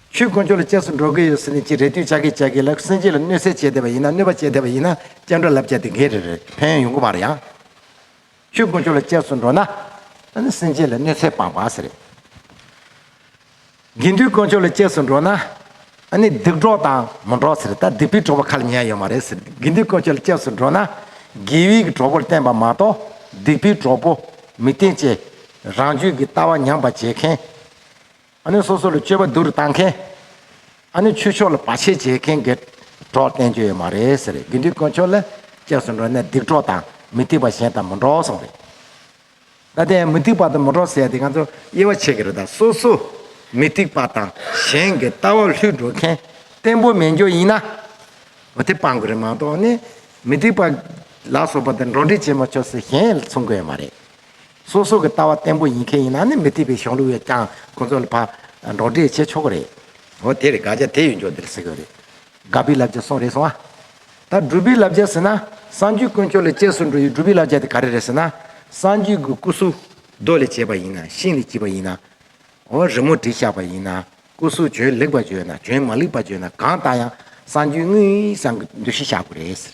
ཆོས་དཀོན་མཆོག་ལ་བཅས་སུ་འགྲོ་གི་ཡོད་ཟེར་ནས་ཅི་རེ་ལྟོས་ཆགས་ཀྱིས་བྱས་ཀྱི་ལ་སེང་ཆེན་ལ་གནོད་སེལ་བྱས་བསྡད་པ་ཡིན་ན་གནོད་པ་བྱས་བསྡད་པ་ཡིན་ན་སྐྱབས་འགྲོ་ལབ་བྱས་ཏེ་འགས་རེ་རེད་ཕན་ཡོང་གི་མ་རེད་ཡང། ཆོས་དཀོན་མཆོག་ལ་བཅས་སུ་འགྲོ་ན། ཨ་ནི་སེང་ཆེན་ལ་གནོད་སེལ་སྤངས་པ་ཟེར། དགེ་འདུན་དཀོན་མཆོག་ལ་བཅས་སུ་འགྲོ་ན། ཨ་ནི་སྡིག་གྲོགས་དང་མི་འགྲོགས་ཟེར་ད་སྡིག་པའི་གྲོགས་པོ་ཁ་ལ་ཉན་ཡོད་མ་རེད་ཟེར་དགེ་འདུན་དཀོན་མཆོག་ལ་བཅས་སུ་འགྲོ་ན། དགེ་བས་གྲོགས་པོར་བསྟེན་པ་མ་གཏོགས་སྡིག་པའི་གྲོགས་པོ་མི་བསྟེན་ཅེས། རང་རྒྱུད་ཀྱི་ལྟ་བ་ཉམས་པར་བྱེད་མཁན། ཨ་ནི་སོ་སོ་ལ་སྤྱོད་པ་བསྡུ་རུ་བཏང་མཁན། ཨ་ནི་ཆོས་ཕྱོགས་ལ་བར་ཆད་བྱེད་མཁན་གྱི་གྲོགས་བསྟེན་རྒྱུ་ཡོད་མ་རེད་ཟེར་རེད་དགེ་འདུན་དཀོན་མཆོག་ལ་བཅས་སུ་འགྲོ་ནས་སྡིག་གྲོགས་དང་མི་སྡིག་པ་གཞན་དང་མི་འགྲོགས་གསུངས་རེད། ད་དེ་ཡང་མི་སྡིག་པ་དང་མི་འགྲོགས་ཟེར་ཡ་དེ་ང་ཚོ་དབྱེ་བ་ཕྱེ་གི་རེད་ད་སོ་སོ་མི་སྡིག་པ་དང་གཞན་གྱི་ལྟ་བ་ལྷུད་འགྲོ་མཁན་བརྟན་པོ་མེད་རྒྱུ་ཡིན་ན། འོ་དེ་སྤང་གི་རེད་མ་གཏོགས་ནི་མི་སྡིག་པ་ལ་སོགས་པ་དང་འགྲོགས་འདྲིས་བྱེད་མ་ཆོག་ཟེར་གཞན་མཚུངས་གི་ཡོད་མ་རེད། སོ་སོ་གི་ལྟ་བ་བརྟན་པོ་ཡིན་མཁན་ཡིན་ན་ནི་མི་ཐེག་པའི་གཞུང་ལུགས་ཡོད་ཀྱང་ཁོང་ཚོ་ལ་ཕ་འགྲོགས་འདྲེས་བྱེད་ཆོག་གི་རེད། འོ་དེ་རེད་དགག་བྱ་དེ་ཡོད་མགྱོགས་འདིར་ཟེར་གི་རེད། དགག་པའི་བསླབ་བྱ་གསུངས་རེད་གསུང་ཨ། ད་སྒྲུབ་པའི་བསླབ་བྱ་ཟེར་ན་སངས་རྒྱུས་དཀོན་མཆོག་ལས་སྐྱེས་སུ་འགྲོ་ཡི་སྒྲུབ་པའི་བསླབ་བྱ་དེ་ག་རེ་རེད་ཟེར་ན། སངས་རྒྱུས་ཀྱི་སྐུ་གཟུགས་རྡོ་ལས་བྱས་པ་ཡིན་ན་ཤིང་ལས་བགྱིས་པ་ཡིན་ན། འོ་རི་མོ་བྲིས་བཞག་པ་ཡིན་ན་སྐུ་གཟུགས་བྱོན་ལེགས་པ་བརྗོད་ན་བྱོན་མ་ལེགས་པ་བརྗོད་ན་གང་ལྟ་ཡང་སངས་རྒྱུས་དངོས་ཡིན་བསམ་གི་འདུ་ཤེས་བཞག་དགོས་རེད་ཟེར།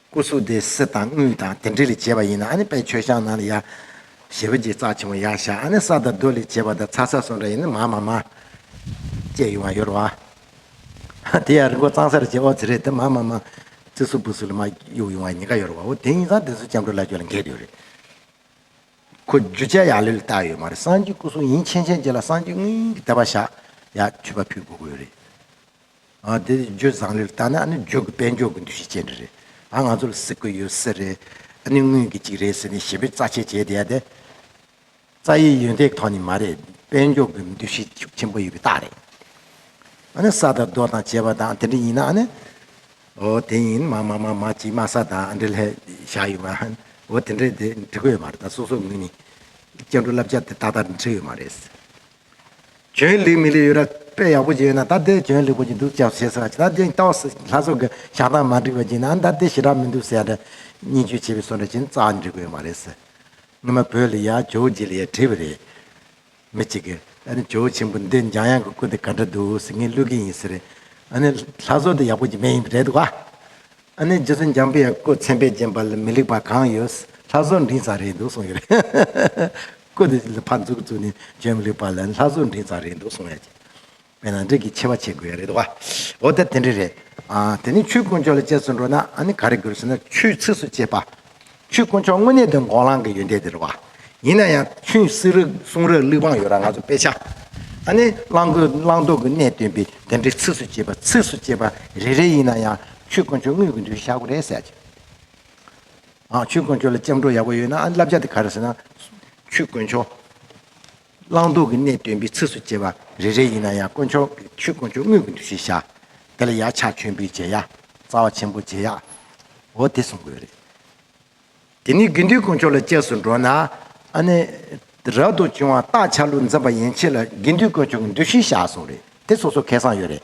སྐུ་གཟུགས་དེ་གསེར་དང་དངུལ་དང་དེ་འདྲས་ལས་བྱས་པ་ཡིན་ན་ནི་དཔལ་ཆོས་ཤངས་ནང་ལ་ཡ། ཞེས་པའི་རྗེས་རྩ་ཆེན་མོ་ཡ་བཞག་ནི་ས་དང་རྡོ་ལས་བྱས་པ་དང་ཚ་ས་སོགས་འདྲ་ཡིན་ན་མ་མ་མ། བཅས་ཡོང་བ་ཡོད་རེད་བ། དེ་ཡང་རི་མགོ་གཙང་སར་བྱས་ཨོ་ཛི་རེད་དེ་མ་མ་མ། རྩི་སུག་སྤུ་སུག་ལ་མ་གཡུག་ཡོང་བ་ཉེ་དགའ་ཡོད་རེད་བ་འོ་དེ་ཡིན་ཙང་དེ་ཚོ་སྐྱབས་འགྲོ་བླ་ཆོས་ལ་འགེལ་གི་ཡོད་རེད། ཁོ་རྒྱུ་ཆ་ཡག་ལེ་ལ་བཏགས་ཡོད་མ་རེད་སངས་རྒྱས་སྐུ་གཟུགས་ཡིན་ཆན་ཆན་རྗེས་ལ་སངས་རྒྱས་དངུལ་གྱི་དད་པ་བཞག་ཡ། འཁྱུད་པ་ཕུད་དགོས་གི་ཡོད་རེད། དེ་རྗོད་བཟང་ལེར་བལྟ་ན་ནི་རྗོད་ཀྱི་དཔལ་འབྱོར་གྱི་འདུ་ཤེས་ཅན་རེད། ང་ཚོ་ལ་སྲིད་དགོས་ཡོད་ས་རེད། ནི་དངུལ་གྱི་གཅིག་རེད་ཟེར་ནས་ཞེ་པོའི་རྩ་ཆད་བྱས་བསྡད་དེ། རྩ་ཡི་ཡོན་ཏན་ཐོག་ནས་མ་རེད། དཔལ་འབྱོར་གྱི་འདུ་ཤེས་ཤུགས་ཆེན་པོ་ཡོད་པའི་རྟགས་རེད། ནི་ས་དང་རྡོ་དང་བྱེ་བ་དང་དེ་འདྲ་ཡིན་ན་ནི། འོ་དེ་ཡིན་མ་མ་མ་མ་གཅིག་མ་ས་དང་འདྲེ་ལྷས་བཞག་ཡོད་མ། འོ་དེ་འདྲས་དེ་འབྲི་དགོས་ཡོད་མ་རེད་ད་སོ་སོའི་ངོས་ནས། སྐྱེ་འགྲོ་བསླབ་བྱ་དེ་ཏག་ཏག་འབྲི་ཡོད་མ་རེད། གྱོན་ལེགས་མི་ལེགས་ཡོད་ར་དཔེ་ཡག་པོ་ཞིག་ཡོད་ན་ད་ལྟའི་གྱོན་ལེགས་པོ་ཞིག་འདུག་སྐྱབས་བྱེད་ཟེར་བ་ཇི་ལྟར་བྱས་ཀྱང་ལྷ་སོགས་ཀྱི་ཞག་ཐག་མ་འགྲིག་པ་ཅིག་ན་ད་ལྟའི་ཞི་དྲག་མི་འདུག་ཟེར་ཡ་འདྲ། སྙན་བརྒྱུད་བྱེད་པའི་སོ་འདྲ་ཞིག་ནི་རྩ་བ་འགྲིག་དགོས་ཡོད་མ་རེད་ཟེར། སྔོན་མ་བོད་ལ་ཡ་ཇོ་བོ་རྗེ་ལ་ཡ་བྲིས་པ་རེད། མི་གཅིག་གིས། ཨ་ནི་ཇོ་བོ་ཆེན་པོ་འདི་འཇམ་དབྱངས་ཀྱི་སྐུ་དེ་ག་འདྲ་འདུག་ཟེར་ངས་བསླུས་ཀྱི་ཡིན་ཟེར། ཨ་ནི། ལྷ་བཟོ་འདི་ཡག་པོ་ཅིག་མེད་ཡིན་པ་རེད་འདུག་ག། ཨ་ནི། རྗེ་བཙུན་འཇམ་དཔལ་ཡ་སྐུ་མཚན་དཔེ་བརྒྱན་པ་ལ་མི་ལེགས་པ་གང་ཡོད། ལྷ་བཟོ་འབྲིང་ཙམ་རེད་འདུག་གསུངས་ཀྱི་རེད། བཀོད་དེ་ལ་ཕར་འཛུགས་བཙུགས་ནས་བྱེད་མི་ལེགས་པ་ལ་ལྷ་བཟོ་འདྲེས་ཙམ་རེད་འདུག་གསུང་ཡ་ཅན་པས་ན་འདྲེས་ཀྱི་ཆེ་བ་བྱེད་དགོས་ཡ་རེད་དོ། འོ་ད་དེ་འདྲ་རེད། དེ་ནས་ཆུའི་དཀོན་མཆོག་ལ་དཔྱད་བཟོ་འགྲོ་ན་ཨ་ནི་ག་རེ་དགོས་ཟེར་ན་ཆུའི་ཚིགས་སུ་བཅད་པ། ཆུའི་དཀོན་མཆོག་དངོས་གནས་དོན་གོ་ལང་གི་ཡོན་ཏན་དེ་རེད་བ། ཡིན་ན་ཡང་ཆུའི་བསིལ་རག་བསུང་རག་གླིག་བང་ཡོད་རག་ང་ཚོ་དཔེ་ཆ། ཨ་ནི་གླང་རྒོད་གླང་མདོག་གི་གནས་སྟོན་པས་དེ་འདྲའི་ཚིགས་སུ་བཅད་པ་ཚིགས་སུ་བཅད་པ་རེ་རེ་ཡིན་ན་ཡང་ཆུའི་དཀོན་མཆོག་དངོས་ཀྱི་འདུལ་བྱ་ཞག་གོ་རེད་ཟེར་ཡ་ཅན། ཨ་ཆོས་དཀོན་མཆོག་ལ་སྐྱབས་འགྲོ་ཡག་པོ་ཡོད་ན་ཨ་བསླབ་བྱ་དེ་ག་རེ་ཟེར་ན། ཆོས་དཀོན་མཆོག། བླང་དོར་གྱི་གནད་སྟོན་པའི་ཚིགས་སུ་བཅད་པ་རེ་རེ་ཡིན་ན་ཡང་དཀོན་མཆོག་གི་ཆོས་དཀོན་མཆོག་དངོས་ཀྱི་འདུ་ཤེས་བཞག། དེ་ལ་ཡག་ཕྱག་མཆོད་འབུལ་བྱེད་ཡ། རྩ་བ་ཆེན་པོ་བྱེད་ཡ། འོ་དེ་གསུངས་དགོས་རེད། དེ་ནས་དགེ་འདུན་དཀོན་མཆོག་ལ་སྐྱབས་སུ་འགྲོ་ན། ཨ་ནི། རབ་ཏུ་བྱུང་བ་རྟགས་ཆགས་ལུགས་འཛིན་པ་ཡན་ཆད་ལ་དགེ་འདུན་དཀོན་མཆོག་གི་འདུ་ཤེས་བཞག་གསུངས་རེད་དེ་སོ་སོ་ཁེ་བཟང་ཡོད་རེད།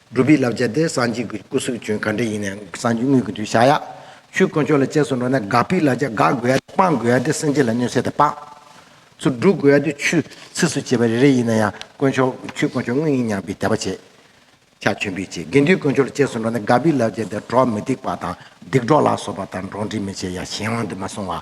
སྒྲུབ་པའི་བསླབ་བྱ་དེ་སངས་རྒྱས་ཀྱི་སྐུ་གཟུགས་བྱོན་ག་འདྲ་ཡིན་ནའང་སངས་རྒྱས་དངོས་ཀྱི་དུས་བཞག་ཡ། ཆོས་དཀོན་མཆོག་ལ་གཅེས་སུ་འགྲོ་ན་དགག་པའི་བསླབ་བྱ་དགག་དགོས་ཡ་སྟེ་སྤང་དགོས་ཡ་སྟེ་སེམས་ཅན་ལ་གནོད་སེལ་དང་སྤངས། ཚུར་བསྒྲུབ་དགོས་ཡ་སྟེ་ཆུད་ཟས་སུ་བྱེད་པ་རེ་རེ་ཡིན་ན་ཡང་དཀོན་མཆོག་ཆོས་དཀོན་མཆོག་དངོས་ཡིན་སྙམ་པའི་དད་པ་བྱེད། ཕྱག་མཆོད་འབུལ་བྱེད་དགེ་འདུན་དཀོན་མཆོག་ལ་གཅེས་སུ་འགྲོ་ན་དགག་པའི་བསླབ་བྱ་དེ་གྲོགས་མི་སྡིག་པ་དང་སྡིག་གྲོགས་ལ་སོགས་པ་དང་འགྲོགས་འདྲིས་མི་བྱེད་ཡ་གཞན་དབང་དུ་མ་སོང་བ།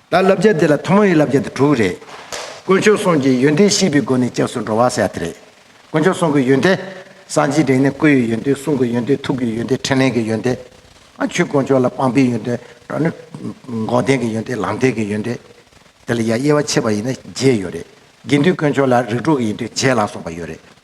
ད་བསླབ་བྱ་འདི་ལ་ཐོག་མ་ཡི་བསླབ་བྱ་འདི་དྲུག་རེད། དཀོན་མཆོག་གསུམ་གྱི་ཡོན་ཏན་ཤེས་པའི་སྒོ་ནས་སྐྱབས་སུ་འགྲོ་བ་ཟེར་བ་དེ་རེད། དཀོན་མཆོག་གསུམ་གྱི་ཡོན་ཏན། སངས་རྒྱས་དྲན་ནས་སྐུ་ཡི་ཡོན་ཏན་གསུང་གི་ཡོན་ཏན་ཐུགས་ཀྱི་ཡོན་ཏན་ཕྲིན་ལས་ཀྱི་ཡོན་ཏན། ཆོས་དཀོན་མཆོག་ལ་སྤངས་པའི་ཡོན་ཏན། འགོག་བདེན་གྱི་ཡོན་ཏན་ལམ་བདེན་གྱི་ཡོན་ཏན། དེ་ལ་ཡང་དབྱེ་བ་ཕྱེ་བ་ཡིན་ན་བརྒྱད་ཡོད་རེད། དགེ་འདུན་དཀོན་མཆོག་ལ་རིགས་དྲུག་གི་ཡིན་དུས་བརྒྱད་ལ་སོགས་པ་ཡོད་རེད།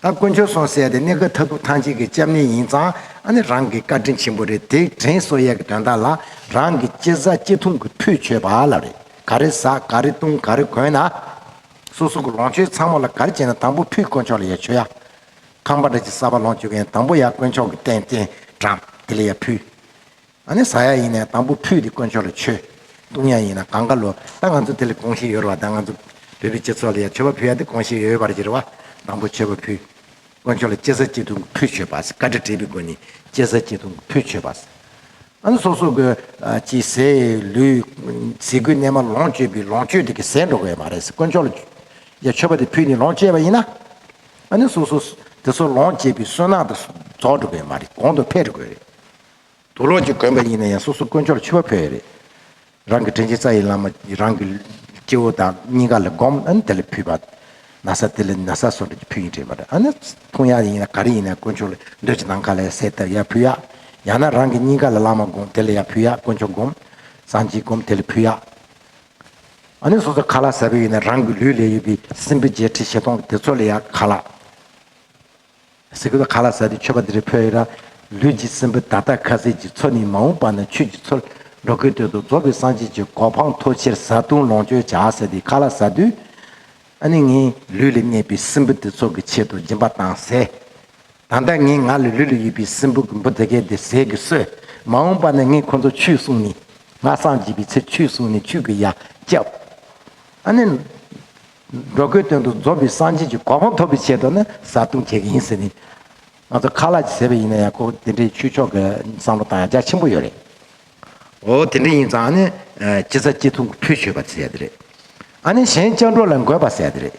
ད་དཀོན་མཆོག་སོང་བསད་དེ་གནས་སྐབས་མཐའ་ཐུག་ཐང་ཅིག་གི་སྤྱ་མེད་ཡིན་ཙང་ཨ་ནི་རང་གི་བཀའ་དྲིན་ཆེན་པོ་རེད་དེ་དྲན་གསོ་ཡས་ཀྱི་དོན་དག་ལ་རང་གི་སྐྱེ་བཟའ་སྐྱེ་ཐུང་གི་ཕུད་མཆོད་པ་ལ་རེ་ག་རེ་ཟ་ག་རེ་བཏུང་ག་རེ་གོན་ན། སོ་སོ་གི་ལོངས་སྤྱོད་ཚང་མ་ལ་ག་རེ་བྱས་ན་དང་པོ་ཕུད་དཀོན་མཆོག་ལ་ཡ་མཆོད་ཡ། ཁང་པ་འདྲ་གཅིག་གསར་པ་ལོངས་སྤྱོད་མཁན་དང་པོ་ཡ་དཀོན་མཆོག་གི་རྟེན་རྟེན་འགྲམ་དེ་ལ་ཡ་ཕུལ། ཨ་ནི་ཟ་ཡ་ཡིན་ནས་དང་པོ་ཕུད་དེ་དཀོན་མཆོག་ལ་མཆོད། བཏུང་ཡ་ཡིན་ན་གང་ག་ལོ་ད་ང་ཚོ་དེ་ལ་དགོངས་བཞེས་ཡོད་རེ་བ་ད་ང་ཚོ་བོད་པའི་སྤྱི་ཚོགས་ལ་ཡང་མཆོད་པ་ཕུད་ཡ་དེ་དགོངས་བཞེས་ཡོད་པ་རེ་རེ་བ་དང་པོ་མཆོད་པ་ཕུད། དཀོན་མཆོག་ལ་སྐྱེ་ས་སྐྱེ་ཐུང་གི་ཕུད་མཆོད་པ་ཟེར་བཀའ་དྲི་དྲིས་པའི་སྒོ་ནས་སྐྱེ་ས་སྐྱེ་ཐུང་གི་ཕུད་མཆོད་པ་ཟེར། ཨ་ནི་སོ་སོ་གི་ཀྱི་ཟས་ལུས་ཟས་གོས་རྣལ་མ་ལོངས་སྤྱོད་པའི་ལོངས་སྤྱོད་དེ་གི་ཟས་འགྲོགས་བས་མ་རེད་ཟེར་དཀོན་མཆོག་ལ་ཡང་མཆོད་པ་དེ་ཕུད་ནས་ལོངས་སྤྱད་པ་ཡིན་ན། ཨ་ནི་སོ་སོ་དེ་སོགས་ལོངས་སྤྱད་པའི་སོན་ནག་དེ་རྫོགས་འགྲོ་བས་མ་རེད་གོང་དུ་འཕེལ་དགོས་རེད། དུ་ལོག་ཅིག་དགོན་པ་ཡིན་ན་ཡང་སོ་སོ་དཀོན་མཆོག་ལ་འཆི་བ་ཕོད་ཡོད་རེད། རང་གི་དྲིན་ཅན་རྩ་ཡི་བླ་མ་རང་གི་སྐྱེ་བོ་དང་སྙིང་ག་ལ་སྒོམ་ཨ་ནི་དེ་ལ་ཕུལ་བ། ན་ས་དེ་ལ་ན་ས་སོ་འགྲོ་གྱི་ཕུལ་ཡིན་དྲན་པ་རེད་ཨ་ནི་ཕུང་ཡག་ཡིན་ན་ག་རེ་ཡིན་ན་དཀོན་མཆོག་ལ་འདོད་ཅིག་ནམ་ག་ལ་སད་ཐབས་ཡག་ཕུལ་ཡག་ཡང་ན་རང་གི་སྙིང་ག་ལ་བླ་མ་སྒོམ་དེ་ལ་ཡག་ཕུལ་ཡག་དཀོན་མཆོག་སྒོམ་སངས་རྒྱས་སྒོམ་དེ་ལ་ཕུལ་ཡག་ཨ་ནི་སོ་སོ་ག་ལ་ཟབ་ཡོད་ཡིན་ན་རང་གི་ལུས་ལས་ཡོད་པའི་སྲིན་བུ་བརྒྱད་ཁྲི་བཞི་སྟོང་དེ་ཚོ་ལ་ཡག་ག་ལ། ཟེར་གི་འདུག་ག་ལ་ཟ་དེ་ཆོས་པ་འདི་རིགས་ཕོ་ཡིག་ར། ལུས་ཀྱི་སྲིན་བུ་བདག་ཐག་ཁ་ཟས་ཀྱི་ཚོ་ནི་མ་འོངས་པ་ན་ཆོས་ཀྱི་ཚོར་འགྲོ་དགོས་དོན་དུ་རྫོགས་པའི་སངས་རྒྱས་ཀྱི་གོ་འཕང་མཐོ་ཕྱིར་བཟའ་བཏུང་ལོངས་སྤྱོད་བྱ་ཟེར་དེ་ག་ལ་ཟ་དུས། ཨ་ནི་ངས་ལུས་ལ་གནས་པའི་སྲིན་བུ་འདི་ཚོགས་ཀྱི་ཆེད་དུ་སྦྱིན་པ་བཏང་ཟས། ད་ལྟ་ངས་ང་ལ་ལུས་ལ་ཡོད་པའི་སྲིན་བུ་གི་འབུ་འཛེར་སྐད་དེ་ཟས་ཀྱིས་གསོས། མ་འོངས་པ་ན་ངས་ཁོ་ཚོར་ཆུས་བསྲུངས་ནས། ང་སངས་རྒྱས་པའི་ཚེ་ཆུས་བསྲུངས་ནས་ཆུས་ཀྱི་ཡ་བསྐྱབས། ཨ་ནི། འགྲོ་མགོན་དོན་དུ་འཛོམས་པའི་སངས་རྒྱས་ཀྱི་གོ་འཕང་ཐོབ་པའི་ཆེད་དུ་ནི་བཟའ་བཏུང་བྱེད་ཀྱི་ཡིན་ཟེར་ནས། ང་ཚོ་ཁ་ལག་གིས་ཟས་པ་ཡིན་ན་ཡང་ཁོ་དེ་འདྲའི་ཆོས་ཕྱོགས་ཀྱི་བསམ་བློ་དང་ཡང་རྒྱ་ཆེན་པོ་ཡོད་རེད། འོ་དེ་འདྲ་ཡིན་ཙང་ནི་སྤྱི་བཟའ་སྤྱི་འཐུང་གི་ཕུད་བྱོས་པ་ཟེར་ཡོད་རེད། ཨ་ནི་གཞན་སྤྱང་གྲུང་ལ་འགོད་པ་ཟེར་ཡོད་རེད།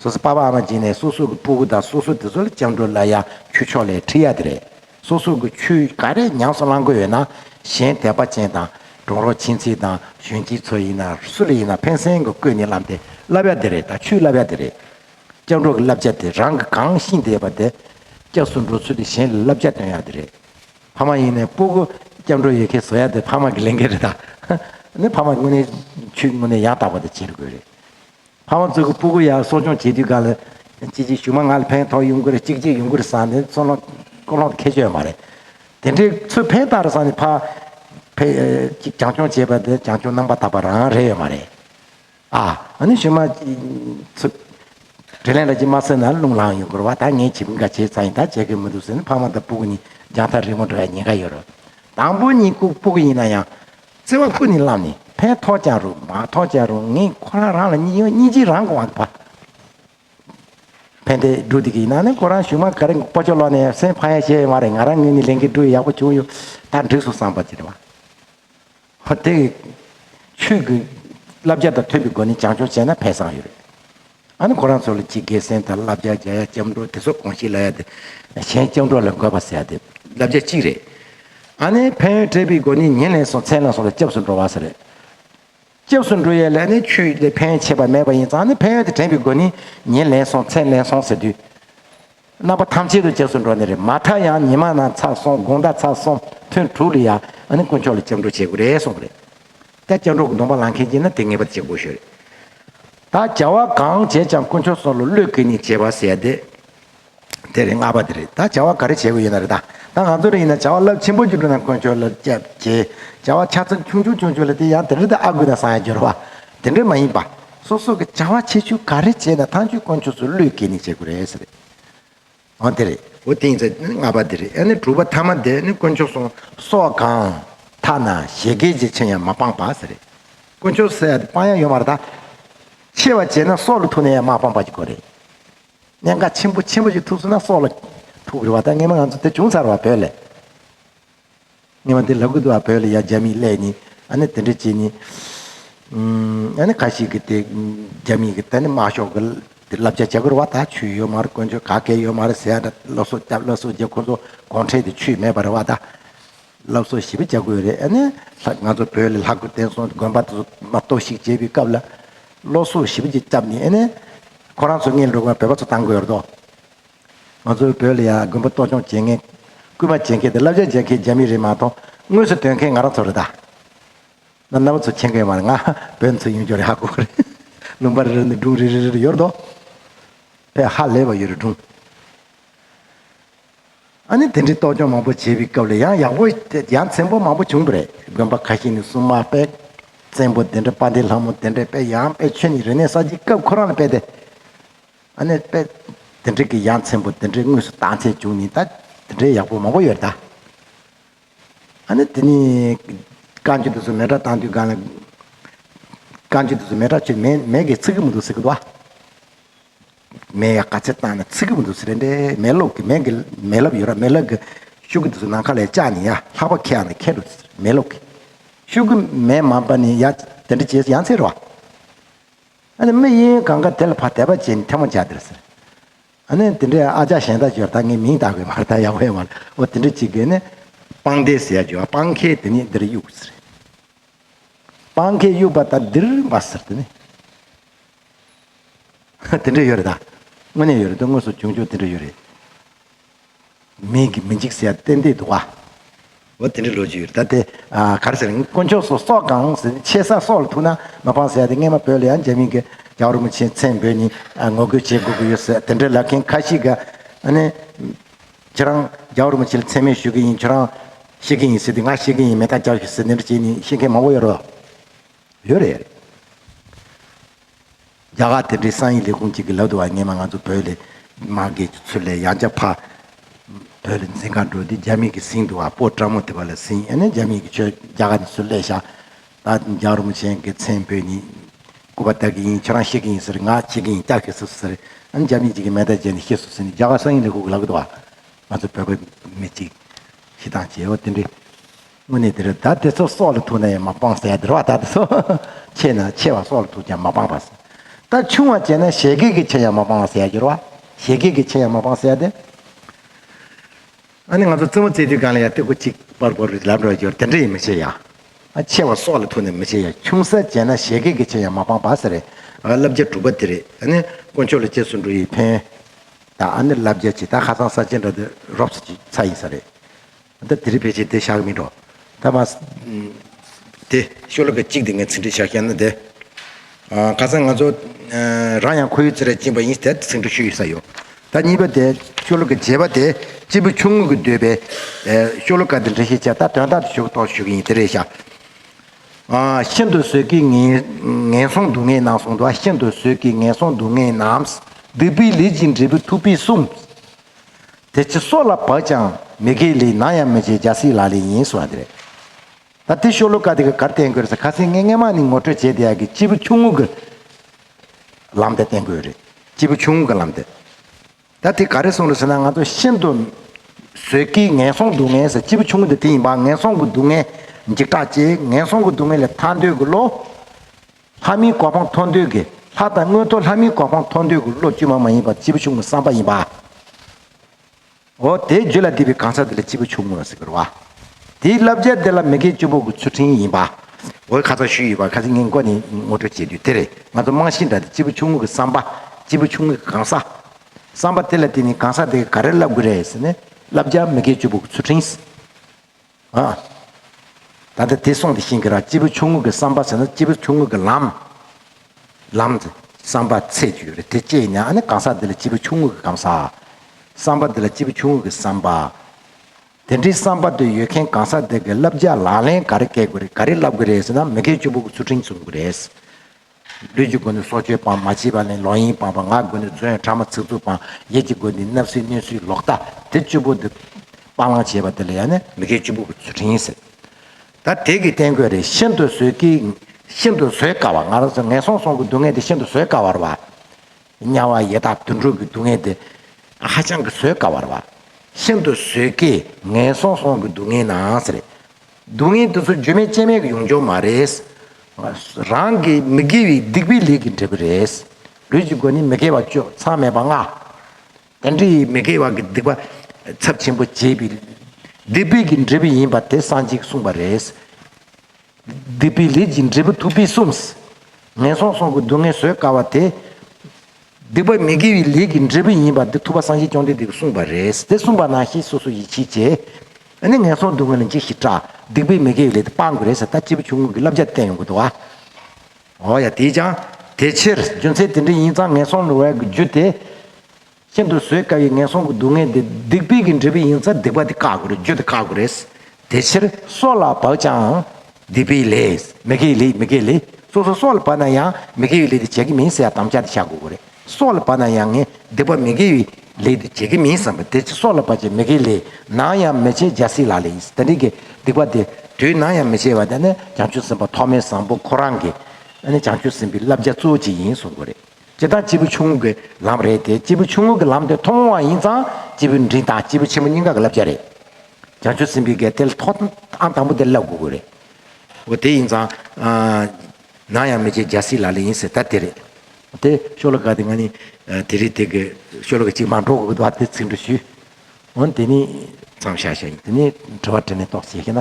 སོ་སོའི་པ་པ་ཨ་མ་སྦྱིན་ནས་སོ་སོ་གི་སྤུ་གུ་དང་སོ་སོ་དེ་ཚོ་ལ་སྤྱང་གྲུང་ལ་ཡང་ཁྱུ་ཕྱོགས་ལས་ཁྲིད་ཡ་དེ་རེད། སོ་སོ་གི་ཆོས་ག་རེ་ཉམས་སུ་བླང་གི་ཡོད་ན་གཞན་དད་པ་ཅན་དང་གྲོགས་རོགས་མཆིན་ཚིག་དང་གཞོན་སྐྱེས་ཚོ་ཡིན་ན་སུ་ལ་ཡིན་ན་ཕན་སེང་གི་བཀོད་ནས་བསླབ་དེ་བསླབ་ཡ་དེ་རེད་ད་ཆུའི་བསླབ་ཡ་དེ་རེད། སྐྱབས་འགྲོ་གི་བསླབ་བྱ་དེ་རང་གི་གང་ཤི་འདས་པ་དེ་སྐྱབས་སུ་འགྲོ་ཚུལ་དེ་གཞན་ལ་བསླབ་བྱ་སྟོན་ཡ་དེ་རེད། ཕ་མ་ཡིན་ནས་སྤུ་གུ་སྐྱབས་འགྲོ་ཡོད་མཁན་བཟོ་ཡ་དེ་ཕ་མ་གི་ལས་འགན་རེད་ད། ནི་ཕ་མ་དངོས་གནས་ཆོས་དངོས་གནས་ཡང་དག་པ་དེ་བྱེད་དགོས་རེད། ཕ་བོང་རྩི་གུ་སྤུ་གུ་ཡར་གསོ་སྐྱོང་བྱེད་དུས་ག་ལ་སྐྱིད་ཅིག་ཞུགས་མ་ང་ལ་ཕན་ཐོགས་ཡོང་གི་རེད་ཅིག་ཅིག་ཡོང་གི་རེད་བསམ་ནས་ཚུར་ལོང་ཀོ་ལོང་ཁེ་ཆོད་མ་རེད། དེ་འདྲའི་ཚུལ་ཕན་བཏགས་རེད་བསམ་ནས་ཕ་ཕས་ཅིག་རྒྱང་སྐྱོང་བྱས་པ་དེ་རྒྱང་སྐྱོང་རྣམ་པ་དག་པ་རང་རེད་ཡོད་མ་རེད། ཨ་ཨ་ནི་ཞུ་མ། ཚུར། དྲིན་ལན་ལ་ཅིག་མ་ཟེར་ན་རླུང་ལངས་ཡོང་གི་རེད་བ་ད་ངས་བྱེད་མི་འགའ་བྱས་ཚར་ཡིན་ད་བྱེད་གི་མི་འདུག་ཟེར་ནས་ཕ་བོང་དང་སྤུ་གུ་གཉིས་རྒྱང་ཐག་རིང་བོར་འགྲོ་བའི་ཉེན་ཁ་ཡོད་རེད། དང་པོ་གཉིས་སྤུ་གུ་ཡིན་ན་ཡང། བརྩེ་བ་ཀུན་ནས་བསླངས་ནས་ཕན་ཐོགས་ཀྱང་རུང་མ་ཐོགས་ཀྱང་རུང་ངས་ཁོ་རང་རང་ལ་སྙིང་ཡོད་སྙིང་རྗེའི་རང་དབང་དགོས། ཕན་བདེའི་སྦྲུལ་དེ་གའི་ནང་ནས་ཁོ་རང་བཞུགས་མ་ག་རེ་སྤོ་ཆོག་ལོག་ནས་སེམས་ཕ་ཡ་བྱས་ཡོད་མ་རེད་ང་རང་ངོས་ནས་ལས་འགན་སྒྲུབ་ཡག་པོ་བྱུང་ཡོད་ད་འགྲིགས་སོང་བསམ་པ་དེ་རེད། ཆོས་ཀྱི་བསླབ་བྱ་དང་མཐུན་པའི་སྒོ་ནས་བྱང་ཆུབ་བྱས་ན་ཕན་བསམ་ཡོད་རེད། ཨ་ནི་ཁོ་རང་ཚོ་ལ་ཅི་དགེ་སེང་དང་བསླབ་བྱ་རྒྱ་ཡ་ལྕམ་སྒྲོག་དེ་ཚོ་གང་ཞིག་ལ་ཡ་དེ་གཞན་ལྕམ་སྒྲོག་ལ་འགོད་པ་ཟེར་ཏེ་བསླབ་བྱ་གཅིག་རེད། ཨ་ནི་ཕན་ཡོན་བྲལ་བའི་སྒོ་ནས་ཉིན་ནས་སོང་མཚན་ལ་སོང་ལ་སྐྱབས་སུ་འགྲོ་བ་ཟེར། སྐྱབས་སུ་འགྲོ་ཡའི་ལས་ནི་ཁྱོད་ལས་ཕན་ཡོན་ཆེ་བ་མེད་པ་ཡིན་ཙང་ཨ་ནི་ཕན་ཡོན་དེ་དྲན་པའི་སྒོ་ནས་ཉིན་ལས་སོང་མཚན་ལས་སོང་ཟེར་དུས། རྣམ་པ་ཐམས་ཅད་དུ་བྱས་སུ་འགྲོ་ནི་རེད་མ་མཐའ་ཡང་ཉི་མ་རྣམས་ཚར་སོང་དགོང་ཟླ་ཚར་སོང་ཐུན་དྲུག་ལ་ཡང་དཀོན་མཆོག་ལ་སྤྱང་གྲུང་བྱེད་དགོས་རེད་གསུངས་པ་རེད་ད་སྤྱང་གྲུང་གི་གདོང་པ་ལང་མཁན་གྱིས་ན་དེ་ངེས་པར་བྱེད་དགོས་ཤོས་རེད་ད་བྱ་བ་གང་བྱས་ཀྱང་དཀོན་མཆོག་སོགས་ལ་བློས་ཁེལ་ནས་བྱེད་པ་ཟེར་ཡ་དེ་དེ་རེད་ལྔ་པ་དེ་རེད་ད་བྱ་བ་ག་རེ་བྱེད་དགོས་ཡོད་ན་རེད་ད་ང་ཚོ་རེ་ཡིན་ན་བྱ་བ་རླབས་ཆེན་པོ་བགྱི་དགོས་ན་དཀོན་མཆོག་ལ་སྤྱད་བྱེད་བྱ་བ་ཆ་ཚང་ཆུང་ཆུང་ཆུང་ཆུང་ལ་དེ་ཡང་དེ་འདྲ་དེ་ཨ་དགོས་ན་བཟང་ཡ་འགྱུར་བ་དེ་འདྲ་མ་ཡིན་པ་སོ་སོ་གི་བྱ་བ་ཆེ་ཆུང་ག་རེ་བྱས་ན་ཐང་ཆུའི་དཀོན་མཆོག་སུ་བློས་འགེལ་ནས་བྱེད་དགོས་རེད་ཟེར་རེད། འོ་དེ་རེད། འོ་དེ་ཡིན་ཚ་ནི་ལྔ་པ་དེ་རེད་ཨ་ནི་དྲུག་པ་ཐ་མ་དེ་ནི་དཀོན་མཆོག་སོང་སོགས་གང་ཐ་ན་བཞད་གད་ཅིག་ཆེན་ཡང་མ་སྤངས་པ་ཟེར་རེད། དཀོན་མཆོག་ཟེར་ཡ་དེ་སྤང་ཡ་ཡོད་མ་རེད་ད། ཆེ་བ་བྱས་ན་སྲོག་ལ་ཐུག་ནས་ཡང་མ་སྤངས་པ་ཞིག་གོ་རེད། གནད་འགག་ཆེན་པོ་ཆེན་པོ་ཞིག་ཐུག་སོང་ན་སྲོག་ལ་ཐུག་རེད་བ་ད་ངེས་མ་ང་ཚོ་དེ་བྱུང་ཚར་བ་བོད་ལས། ཉི་མ་དེ་ལྷ་ཁུ་དུ་བ་བོད་ལ་ཡ་རྒྱ་མིས་གླས་ནི་ཨ་ནི་དེ་འདྲ་བྱེད་ནི། ཨ་ནི་ག་ཞིག་གི་དེ་རྒྱ་མིས་གི་ད་ནི་དམག་ཤོག་གི་དེ་བསླབ་བྱ་བྱ་དགོས་ར་བ་ད་ཆུས་ཡོད་མ་ར་དཀོན་མཆོད་ག་གལ་ཡོད་མ་ར་ཟེ་ཨ་འདྲ་སློབ་གསོ་བསྐྱབས་སློབ་གསོ་བྱས་ཁོ་ཚོ་གོང་ཁྲེལ་དེ་ཆུས་མེད་པ་ར་བ་ད། སློབ་གསོ་ཞིབ་པ་བྱ་དགོས་རེད་ཨ་ནི་ལྷ་ང་ཚོ་བོད་ལ་ལྷ་ཁུ་བསྟན་སྲུང་དགོན་པ་དེ་ཚོ་མ་གཏོགས་ཤིག་བྱས་པའི་སྐབས་ལ། སློབ་གསོ་ཞིབ་པ་བྱས་བསྐྱབས་ནི་ཨ་ནི། ཁོ་རང་ཚོ་ངེད་འགྲོ་དགོས་ན་བོད་པ་ཚོ་བཏང་དགོས་ར་དོ། ང་ཚོའི་བོད་ལ་ཡང་དགོན་པ་གཏོར་ཆོངས་བྱེད་ངེས། རྐུན་མ་བྱེད་མཁན་དང་བསླབ་བྱ་འཇལ་མཁན་རྒྱ་མི་རིགས་མ་གཏོགས་དངོས་སུ་དོན་མཁན་ང་རང་ཚོ་རེད་ད། ང་གནའ་བོ་ཚོ་མཁྱེན་མཁན་མ་རེད་ང་བོད་མི་ཚོ་ཡིན་རྒྱུ་རེད་ཧ་གོ་གི་རེད། ལུང་པ་རེ་རེ་ནས་སྒྲུང་རེ་རེ་རེ་རེ་ཡོད་རེད་དོ། བོད་ཧ་ལས་པ་ཡོད་རེད་སྒྲུང། ཨ་ནི་དེ་འདྲའི་གཏོར་ཆོངས་མང་པོ་བྱས་པའི་སྐབས་ལ་ཡང་ཡག་པོ་ཡང་བཙན་པོ་མང་པོ་བྱུང་བ་རེད་དགོན་པ་ཁ་ཤས་ནི་སྲུང་མ་སྤེལ། བཙན་པོ་དེ་འདྲ་དཔའ་འདེགས་ལྷ་མོ་དེ་འདྲས་སྤེལ་ཡང་དཔེ་ཆོས་ནི་རེ་གནས་གསར་བརྗེའི་སྐབས་ཁོ་རང་ལ་སྤེལ་ཏེ། ཨ་ནེ་དཔལ། འདི་འདྲའི་གི་ཡངས་ཚན་པོ་འདི་འདྲའི་དངོས་སུ་བཏང་ཚད་བྱུང་ནི་ད་འདི་འདྲའི་ཡག་པོ་མང་པོ་ཡོད་ད། ཨ་ནེ་འདི་ནི། རྐང་ཆུ་འདི་ཚོ་མེ་དྲ་བཏང་དུས་གང་ལ། རྐང་ཆུ་འདི་ཚོ་མེ་དྲ་ཆུ་མེད་མེད་གི་ཚིག་གི་མི་འདུག་ཟེར་གི་འདུག་ཨ། མེ་ཡ་ག་ཚད་བཏང་ནས་ཚིག་གི་མི་འདུག་ཟེར་རན་པས་མེ་ལོག་གི་མེ་གི་མེ་ལབ་ཡོད་ར་མེ་ལབ་གི། ཤུག་གི་འདི་ཚོ་ནང་ཁ་ལས་བཅག་ནི་ཡ་ལྷག་པ་ཁེ་ཡང་ནི་ཁེ་འགྲོ་ཟེར་མེ་ལོག་གི། ཤུག་གི་མེ་མང་པ་ནི་ཡ་དེ་འདྲ་བྱས་ཡང་ཚད་ར་བ། ཨ་ནི་མི་དབྱིན་གང་ག་དེ་ལ་ཕ་དད་པ་ཅན་ཐལ་མོ་བྱ་དེར་ཟེར། ཨ་ནི་དེ་འདྲའི་ཨ་ཅག་གཞན་དག་བྱོས་ད་ངས་མིང་བཏགས་དགོས་མར་ད་ཡག་པོ་ཡོད་མ་རེད་འོ་དེ་འདྲའི་གཅིག་པས་ནི། སྤང་དེ་ཟེར་ཡ་བྱོས་ཨ་སྤང་ཁའི་དེ་ནི་འདིར་གཡུགས་ཟེར། སྤང་ཁའི་གཡུགས་པ་ད་འདིར་འབ་ཟེར་དེ་ནི། དེ་འདྲའི་ཡོད་རེད་ད། དངོས་གནས་ཡོད་རེད་དོན་དངོས་སུ་བྱུང་ཆོག་དེ་འདྲའི་ཡོད་རེད། མིག་གིས་མི་འཇིགས་སྲེད་གཏན་བདེའི་དུ་བ། འོ་དེ་འདྲའི་ལོ་རྒྱུས་ཡོད་རེད་ད་དེ་ག་རེ་ཟེར་ན་དཀོན་མཆོག་སོ་སོག་གང་ཟེར་ནས་ཆེ་ས་སོག་ལ་ཐུག་ན་མ་སྤང་ཟེར་ཏེ་སྔས་མ་བོད་ལ་ཡང་འཇར་མིན་གྱི་རྒྱ་བོར་མི་ཆེན་མཚན་བོད་གཉིས་ངོ་རྒོལ་བྱེད་དགོས་ཀྱི་ཡོད་ཟེར་དེ་འདྲའི་ལབ་མཁན་ཁ་ཤིག་ག་ནི་ཁྱེད་རང་རྒྱ་བོར་མི་ཆེན་ལ་མཚན་སྨད་ཞུ་གི་ཡིན་ཁྱོད་རང་ཤེས་ཀྱི་ཡིན་ཟེར་ཏེ་ང་ཤེས་ཀྱི་ཡིན་མེ་སྟག་བཅག་ཞུ་ཟེར་འདི་འདྲ་བྱེད་ནི་ཤེས་མཁན་མང་བོ་ཡོད་རེད། རྒྱ་གར་དེ་འབྲེལ་སངས་ཡིག་ལས་ཁུངས་གཅིག་གི་ལག་ཏུ་བ་ངེས་མ་ང་ཚོ་བོད་ལས་མ་འགལ་གྱི་ཚུལ་ལས་ཡང་བསྐྱར་ཕར་བོད་ལ་འཛིན་ཁང་འགྲོ་དུས་རྒྱ་མིག་གིས་ཟིན་འདུག་བ་སྤོ་བཀྲ་མོ་དེ་བ་ལ་ཟིན་ཨེ་ན་རྒྱ་མིག་གིས་ཁྱོད་རྒྱ་གར་ནས་སུ་སླེ་བཞག་ད་རྒྱ་རོ་མོ་ཆེན་གི་མཚན་བོད་ཉིད་སྐུ་བ་དག་གི་ཡིན་ཁྱོད་རང་ཤེས་ཀྱི་ཡིན་ཟེར་ང་ཤེས་ཀྱི་ཡིན་སྐྱག་ཤེས་སུ་ཟེར་ཨེ་ན་རྒྱ་མིག་གཅིག་གིས་མེ་དར་བྱས་ནས་ཤེས་སུ་ཟིན་ནས་རྒྱ་གར་སངས་ཡིག་ལས་ཁུག་གི་ལག་ཏུ་བ་ང་ཚོ་བོད་པ་མི་གཅིག་ཤི་སྟངས་བྱས་ཨོ་དེ་འདྲའི། དངོས་གནས་དེར་བདག་དེ་ཚོ་སྲོག་ལ་ཐུག་ན་ཡང་མ་སྤངས་ཟེར་དེར་བ་དག་དེ་ཚོ་ཆེས་ན་ཆེ་བ་སྲོག་ལ་ཐུག་ཀྱང་མ་སྤངས་པ་ཟེར། ད་ཆུང་བ་བྱས་ན་བཞད་གད་ཀྱི་ཆེ་ཡང་མ་སྤངས་ཟེར་གྱུར་བ། བཞད་གད་ཀྱི་ཆེ་ཡང་མ་སྤངས་ཟེར་ཏེ། ཨ་ནི་ང་ཚོ་རྩེད་མོ་རྩེད་དུས་གང་ལ་ཡང་སྟོད་གོས་གཅིག་པར་བོར་རིགས་ལབ་འགྲོ་གི་ཡོད་དེ་འདྲ་ཡིན་མི་ཆེ་ཡང། ཆེ་བ་སྲོག་ལ་ཐུག་ནས་མི་ཆེ་ཡང་ཆུང་ས་བྱས་ན་བཞད་གད་ཀྱི་ཆེ་ཡང་མ་སྤངས་པ་ཟེར། བསླབ་བྱ་དྲུག་པ་དེ་རེད་ཨ་ནི་དཀོན་མཆོག་ལ་རྗེས་སུ་འགྲོ་ཡིས་ཕན། ད་ཨ་ནི་བསླབ་བྱ་ཇི་ལྟར་ཧ་སང་ས་ཅན་འདྲ་དེ་རོབ་ས་ཅི་ཚ་ཡིན་ས་རེད། ད་དེ་རི་བེད་ཅིག་དེ་ཞག་མི་འགྲོ། ད་མ། དེ། ཤོ་ལོ་ཀ་གཅིག་དེ་ངས་ཚིག་འབྲི་ཞག་བཤད་ན་དེ། ཁ་སང་ང་ཚོ། རང་ཡང་ཁོ་ཡུལ་ཚེ་རལ་སྤྱིན་པ་ཡིན་ཟེར་དེ་ཚིག་འབྲི་ཤོ་ཡོད་ས་ཡོད། ད་གཉིས་པ་དེ། ཤོ་ལོ་ཀ་བརྗེས་པ་དེ། གཅིག་པུ་ཆུང་ངུ་གི་འདོད་པའི། ཤོ་ལོ་ཀ་དེ་འབྲི་ཤེས་བྱ་ད་དོན་དག་དེ་ཞུ་གི་ཏོག་ཞུ་གི་ཡིན་དེ་རེད་ཞག། ཤིན་ཏུ་བཟོད་ཀི་ངན་སོང་སྡུག་བསྔལ་ནང་སོང་འདུག་ཤིན་ཏུ་བཟོད་ཀི་ངན་སོང་སྡུག་བསྔལ་ནའམ། སྡིག་པའི་ལས་ཅིག་འབྲི་བུ་ཐུག་པས་གསུངས། དེ་ཚེ་སྲོག་ལ་བབ་ཅིང་མི་དགེའི་ལས་ནང་ཡང་མི་བྱེད་རྒྱལ་སྲིད་ལ་ལས་ཡིན་ཟེར་བ་དེ་རེད། ད་དེ་ཤོ་ལོ་ཀ་དེ་ག་གར་བསྟན་དགོས་རེད་ས་ཁ་སེང་ངེ་ངེ་མ་ནི་ངོ་སྤྲོད་བྱས་དེ་ཡག་གི་སྤྱིལ་བུ་ཆུང་ངུ་གི་ལམ་དེ་བསྟན་དགོས་རེད་སྤྱིལ་བུ་ཆུང་ངུ་གི་ལམ་དེ། ད་དེ་ག་རེ་གསུང་རེད་ཟེར་ན་ང་ཚོ་ཤིན་ཏུ་ཟོལ་གྱིས་ངན་སོང་སྡུག་བསྔལ་ཟེར་སྤྱིལ་བུ་ཆུང་ངུ་དེ་དེ་ཡིན་པ་ངན་སོང་གི་སྡུག་བསྔལ་འཇིགས་སྐྲག་ཅེས་ངན་སོང་གི་སྡུག་བསྔལ་ལས་ཐར་འདོད་ཀྱི་བློ་ལྷ་མིའི་གོ་འཕང་མཐོང་འདོད་ཀྱི་ལྷ་དང་དངོས་ཐོག་ལྷ་མིའི་གོ་འཕང་མཐོང་འདོད་ཀྱི་བློ་བཅོས་མ་མ་ཡིན་པ་སྤྱི་བོ་ཆུང་ངུ་སངས་པ་ཡིན་པའོ། དེའི་རྒྱུད་ལ་བསྡུས་པའི་གང་ཟག་དེ་ལ་སྤྱི་བོ་ཆུང་ངུ་ཟེར་བར་བ། དེའི་བསླབ་བྱ་དེ་ལ་མི་མཁས་སྤྱི་བོ་དགུ་ཚུལ་ཁྲིམས་ཡིན་པའོ། འོད་ཁ་ཚ་ཞུས་ཡོད་པ་ཁ་ཚིག་ངན་སྒོ་ནས་ངོ་སྤྲོད་བྱས་དུས་དེར་ང་ཚོ་རྨང་གཞི་འདྲ་སྟེ་སྤྱི་བོ་ཆུང་ངུ་གྱི་སངས་པ། སྤྱི་བོ་ཆུང་ངུ་གྱི་གང་ཟག། སངས་པ་དེ་ལ་བརྟེན་ནས་གང་ཟག་དེ་ག་རེ་བསླབ་དགོས་རེད་ཟེར་ནས་བསླབ་བྱ་མི་མཁས་སྤྱི་བོ་དགུ་ཚུལ་ཁྲིམས། ད་ལྟ་དེ་སོང་དེ་ཕྱིན་གྱི་རང་སྤྱི་བོ་ཆུང་ངུ་གྱི་བསམ་པ་ཟེར་ན་སྤྱི་བོ་ཆུང་ངུ་གྱི་ལམ། ལམ། བསམ་པ་ཚད་རྒྱུ་ཡོད་རེད་དེ་སྐྱེས་ནས་ཨ་ནི་གང་ཟག་འདི་ལ་སྤྱི་བོ་ཆུང་ངུ་གྱི་གམ་ཟག། བསམ་པ་འདི་ལ་སྤྱི་བོ་ཆུང་ངུ་གྱི་བསམ་པ། དེ་འདྲའི་བསམ་པ་འདི་ཡོད་མཁན་གང་ཟག་འདི་གི་བསླབ་བྱ་ལག་ལེན་ག་རེ་བཀལ་དགོས་རེད་ག་རེ་བསླབ་དགོས་རེད་ཟེར་ན་མི་སྐལ་བཅུ་པོ་གི་ཚུལ་ཁྲིམས་བསྲུང་དགོས་རེད། ལུས་ཀྱི་སྒོ་ནི་སྲོག་གཅོད་སྤང་མ་བྱིས་པ་ནི་ལོག་གཡེང་སྤང་བ་ངག་གི་སྒོ་ནི་རྫུན་ཡང་ཕྲ་མ་ཚིག་རྩུབ་སྤང་ཡིད་ཀྱི་སྒོ་ནི་རྣབ་སྲིད་གནོད་སྲིད་ལོག་ལྟ་དེ་བཅུ་པོ་འདི་སྤང་བླང་བྱེད་པ་དེ་ལ་ཡང་ནི་མི་དགེ་བཅུ་པོ་གོ་ཚུལ་ཕྲན་ཡིན་ཟེར། ད་དེ་གི་བསྟན་བཀོད་རེ་ཤིན་ཏུ་བཟོད་ཀི་ཤིན་ཏུ་བཟོད་དཀའ་བ་ང་རང་ཚོ་ངན་སོང་སོང་གི་སྡུག་བསྔལ་དེ་ཤིན་ཏུ་བཟོད་དཀའ་བར་བ། དམྱལ་བ་ཡེ་དག་དུད་འགྲོ་གི་སྡུག་བསྔལ་དེ་ཧ་ཅང་གི་བཟོད་དཀའ་བར་བ། ཤིན་ཏུ་བཟོད་ཀི་ངན་སོང་སོང་གི་སྡུག་བསྔལ་ནའང་ཟེར། སྡུག་བསྔལ་དེ་ཚོ་བརྗོད་མེད་དཔྱད་མེད་ཀྱི་ཡོང་ཆོག་མ་རེད། རང་གི་མི་དགེ་བའི་སྡིག་པའི་ལས་ཀྱི་འབྲས་བུ་རེད། ལུས་ཀྱི་སྒོ་ནས་མི་དགེ་བ་སྤྱོད་མཚམས་མེད་པ་ལྔ། ལྡན་འདྲེ་ཡིས་མི་དགེ་བ་གྱི་སྡིག་པ་ཚབས་ཆེན་པོ་བྱས་པའི་སྡིག་པའི་གྱི་འབྲས་བུ་ཡིན་པ་དེ་སངས་རྒྱས་ཀྱིས་གསུངས་པ་རེད། སྡིག་པའི་ལས་ཀྱི་འབྲས་བུ་ཐུབ་པས་གསུངས། ངན་སོང་སོང་གི་སྡུག་བསྔལ་བཟོད་དཀའ་བ་དེ། སྡིག་པ་མི་དགེ་བའི་ལས་ཀྱི་འབྲས་བུ་ཡིན་པ་དེ་ཐུབ་པ་སངས་རྒྱས་བཅོམ་ལྡན་འདས་ཀྱིས་གསུངས་པ་རེད། དེ་གསུངས་པ་ན་ཤེས་སོ་སོ་ཡིད་ཆེས་བྱེད། ཨ་ནི་ངན་སོང་སྡུག་བསྔལ་ལས་འཇིགས་ཤིག་བཀྲ། སྡིག་པའི་མི་དགེའི་ལས་དེ་སྤང་དགོས་རེད་ཟེར་ད་སྐྱེས་བུ་ཆུང་ངུ་གི་བསླབ་བྱ་དེ་བསྟན་ཡོང་གི་འདུག་ཨ། འོ་ཡ་དེས་ཀྱང། དེ་ཕྱིར་རྒྱུ་མཚན་དེ་འདྲ་ཡིན་ཙང་ངན་སོང་ནི་བའི་རྒྱུ་དེ། ཤིན་ཏུ་བཟོད་དཀའ་བའི་ངན་སོང་གི་སྡུག་བསྔལ་དེ་སྡིག་པའི་གིས་འབྲི་བ་ཡིན་ཙང་སྡིག་པ་དེ་བཀག་དགོས་རེད་རྒྱུ་དེ་བཀག་དགོས་རེད། དེ་ཕྱིར། སྲོག་ལ་བག་ཆའང། འདི་པའི་ལས། མི་དགེའི་ལས་མི་དགེའི་ལས་སོ་སོ་སྲོག་ལ་བབས་ན་ཡང་མི་དགེ་བའི་ལས་འདི་བྱེད་ཀྱི་མིན་ཟེར་བ་དམ་བཅའ་དེ་བྱ་དགོས་གོ་རེ་སྲོག་ལ་བབས་ན་ཡང་ངས་འདི་པ་མི་དགེ་བའི་ལས་འདི་བྱེད་ཀྱི་མིན་བསམ་པས་དེ་ཕྱིར་སྲོག་ལ་བབས་ཀྱི་མི་དགེའི་ལས་ནང་ཡང་མི་བྱེད་འཇའ་སྲིད་ལ་ལས་ཡིན་དེ་འདྲའི་དགེ་སྡིག་པ་དེ་དུས་ནང་ཡང་མི་བྱེད་པ་དེ་ནི་བྱང་ཆུབ་སེམས་དཔའ་ཐོག་མའི་བཟང་པོ་ཁོ་རང་གི་ནི་བྱང་ཆུབ་སེམས་དཔའི་བསླབ་བྱ་གཙོ་བོ་གཅིག་ཡིན་གསུང་གོ་རེ། སྤྱི་དང་སྤྱི་བོ་ཆུང་ངུ་གི་ལམ་རེད་དེ་སྤྱི་བོ་ཆུང་ངུ་གི་ལམ་དེ་མཐོང་བ་ཡིན་ཙང་སྤྱི་བོའི་མགྲིན་དང་སྤྱི་བོ་ཆེན་པོ་སྙིང་ག་གི་བསླབ་བྱ་རེད། བྱང་ཆུབ་སེམས་དཔའི་དགེ་དེ་ལ་ཐོག་ཨང་དང་པོ་དེ་བསླབ་དགོས་ཀྱི་རེད། འོ་དེ་ཡིན་ཙང། ནང་ཡང་མི་བྱེད་རྒྱལ་སྲིད་ལ་ལ་ཡིན་ཟེར་ད་དེ་རེད། དེ་ཤོ་ལོ་ཀ་དེ་ང་ནི་དེ་རིང་དེ་གི་ཤོ་ལོ་ཀ་གཅིག་མ་འགྲོ་དགོས་བ་དེ་ཚིག་འབྲུ་ཞུས། འོ་དེ་ནི། མཚམས་བཞག་བཞག་ཡིན་དེ་ནི་དྲི་བ་དྲི་ནས་དོགས་ཟེར་ཤེ་ན།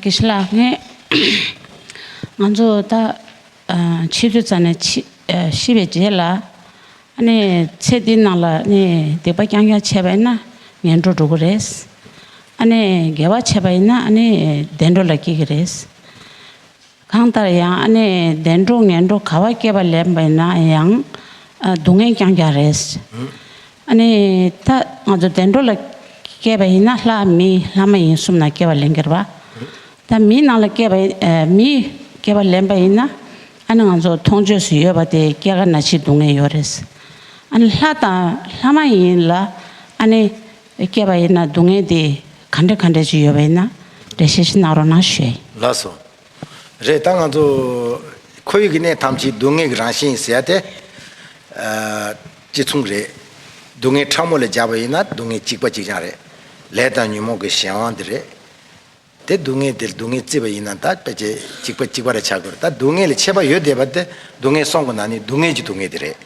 དགེ་བཤེས་ལགས་ནས་ང་ཚོ་ད་ཕྱི་དྲོ་ཙམ་ནས་ཤི་བའི་རྗེས་ལ་ནས་ཚེ་འདི་ནང་ལ་ནས་སྡིག་པ་རྐྱང་རྐྱང་བྱས་པ་ཡིན་ན་ངན་འགྲོར་འགྲོ་གི་རེད། ཨ་ནས་དགེ་བ་བྱས་པ་ཡིན་ན་ཨ་ནས་བདེ་འགྲོ་ལ་སྐྱེ་གི་རེད། གང་ལྟར་ཡང་ཨ་ནེ་བདེ་འགྲོ་ངན་འགྲོ་ག་བ་སྐྱེས་པ་ལས་མེད་ན་ཡང་སྡུག་བསྔལ་རྐྱང་རྐྱང་རེད། ཨ་ནེ་ད་ང་ཚོ་བདེ་འགྲོ་ལ་སྐྱེས་པ་ཡིན་ན་ལྷ་མི་ལྷ་མ་ཡིན་གསུམ་ན་སྐྱེས་པ་ལེན་གྱི་རེད། ད་མིའི་ནང་ལ་སྐྱེས་པ་མིའི་སྐྱེས་པ་ལེན་པ་ཡིན་ན་ཨ་ནེ་ང་ཚོ་མཐོང་ཆོས་སུ་ཡོད་པ་དེ་སྐྱེ་རྒ་ན་འཆིའི་སྡུག་བསྔལ་ཡོད་རེད། ཨ་ནེ་ལྷ་དང་ལྷ་མ་ཡིན་ལ་ཨ་ནེ་སྐྱེས་པ་ཡིན་ན་སྡུག་བསྔལ་དེ་ག་འདྲ་ག་འདྲ་ཅིག་ཡོད་པ་ཡིན་ན་རེ་ཞིག་གནང་རོགས་གནང་ཞུས། ལགས་སོ། རེད་ད་ང་ཚོ། ཁོར་ཡུག་གི་གནས་ཐམས་ཅད་སྡུག་བསྔལ་གྱི་རང་བཞིན་ཟེར་ཏེ། གཅིག་མཚུངས་རེད། སྡུག་བསྔལ་ཕྲ་མོ་ལས་རྒྱགས་པ་ཡིན་ན་སྡུག་བསྔལ་གཅིག་པ་གཅིག་རྐྱང་རེད། ལས་དང་ཉོན་མོངས་ཀྱི་གཞན་དབང་དེ་རེད། དེ་སྡུག་བསྔལ་དེར་སྡུག་བསྔལ་བརྩི་བ་ཡིན་ན་ད་དཔེ་ཆའི་གཅིག་པ་གཅིག་པ་རེ་ཆགས་དགོས་རེད་ད་སྡུག་བསྔལ་ལས་ཆད་པ་ཡོད་བསྡད་པ་དེ་སྡུག་བསྔལ་སོང་དགོས་ན་ནི་སྡུག་བསྔལ་གྱི་སྡུག་བསྔལ་དེ་རེད།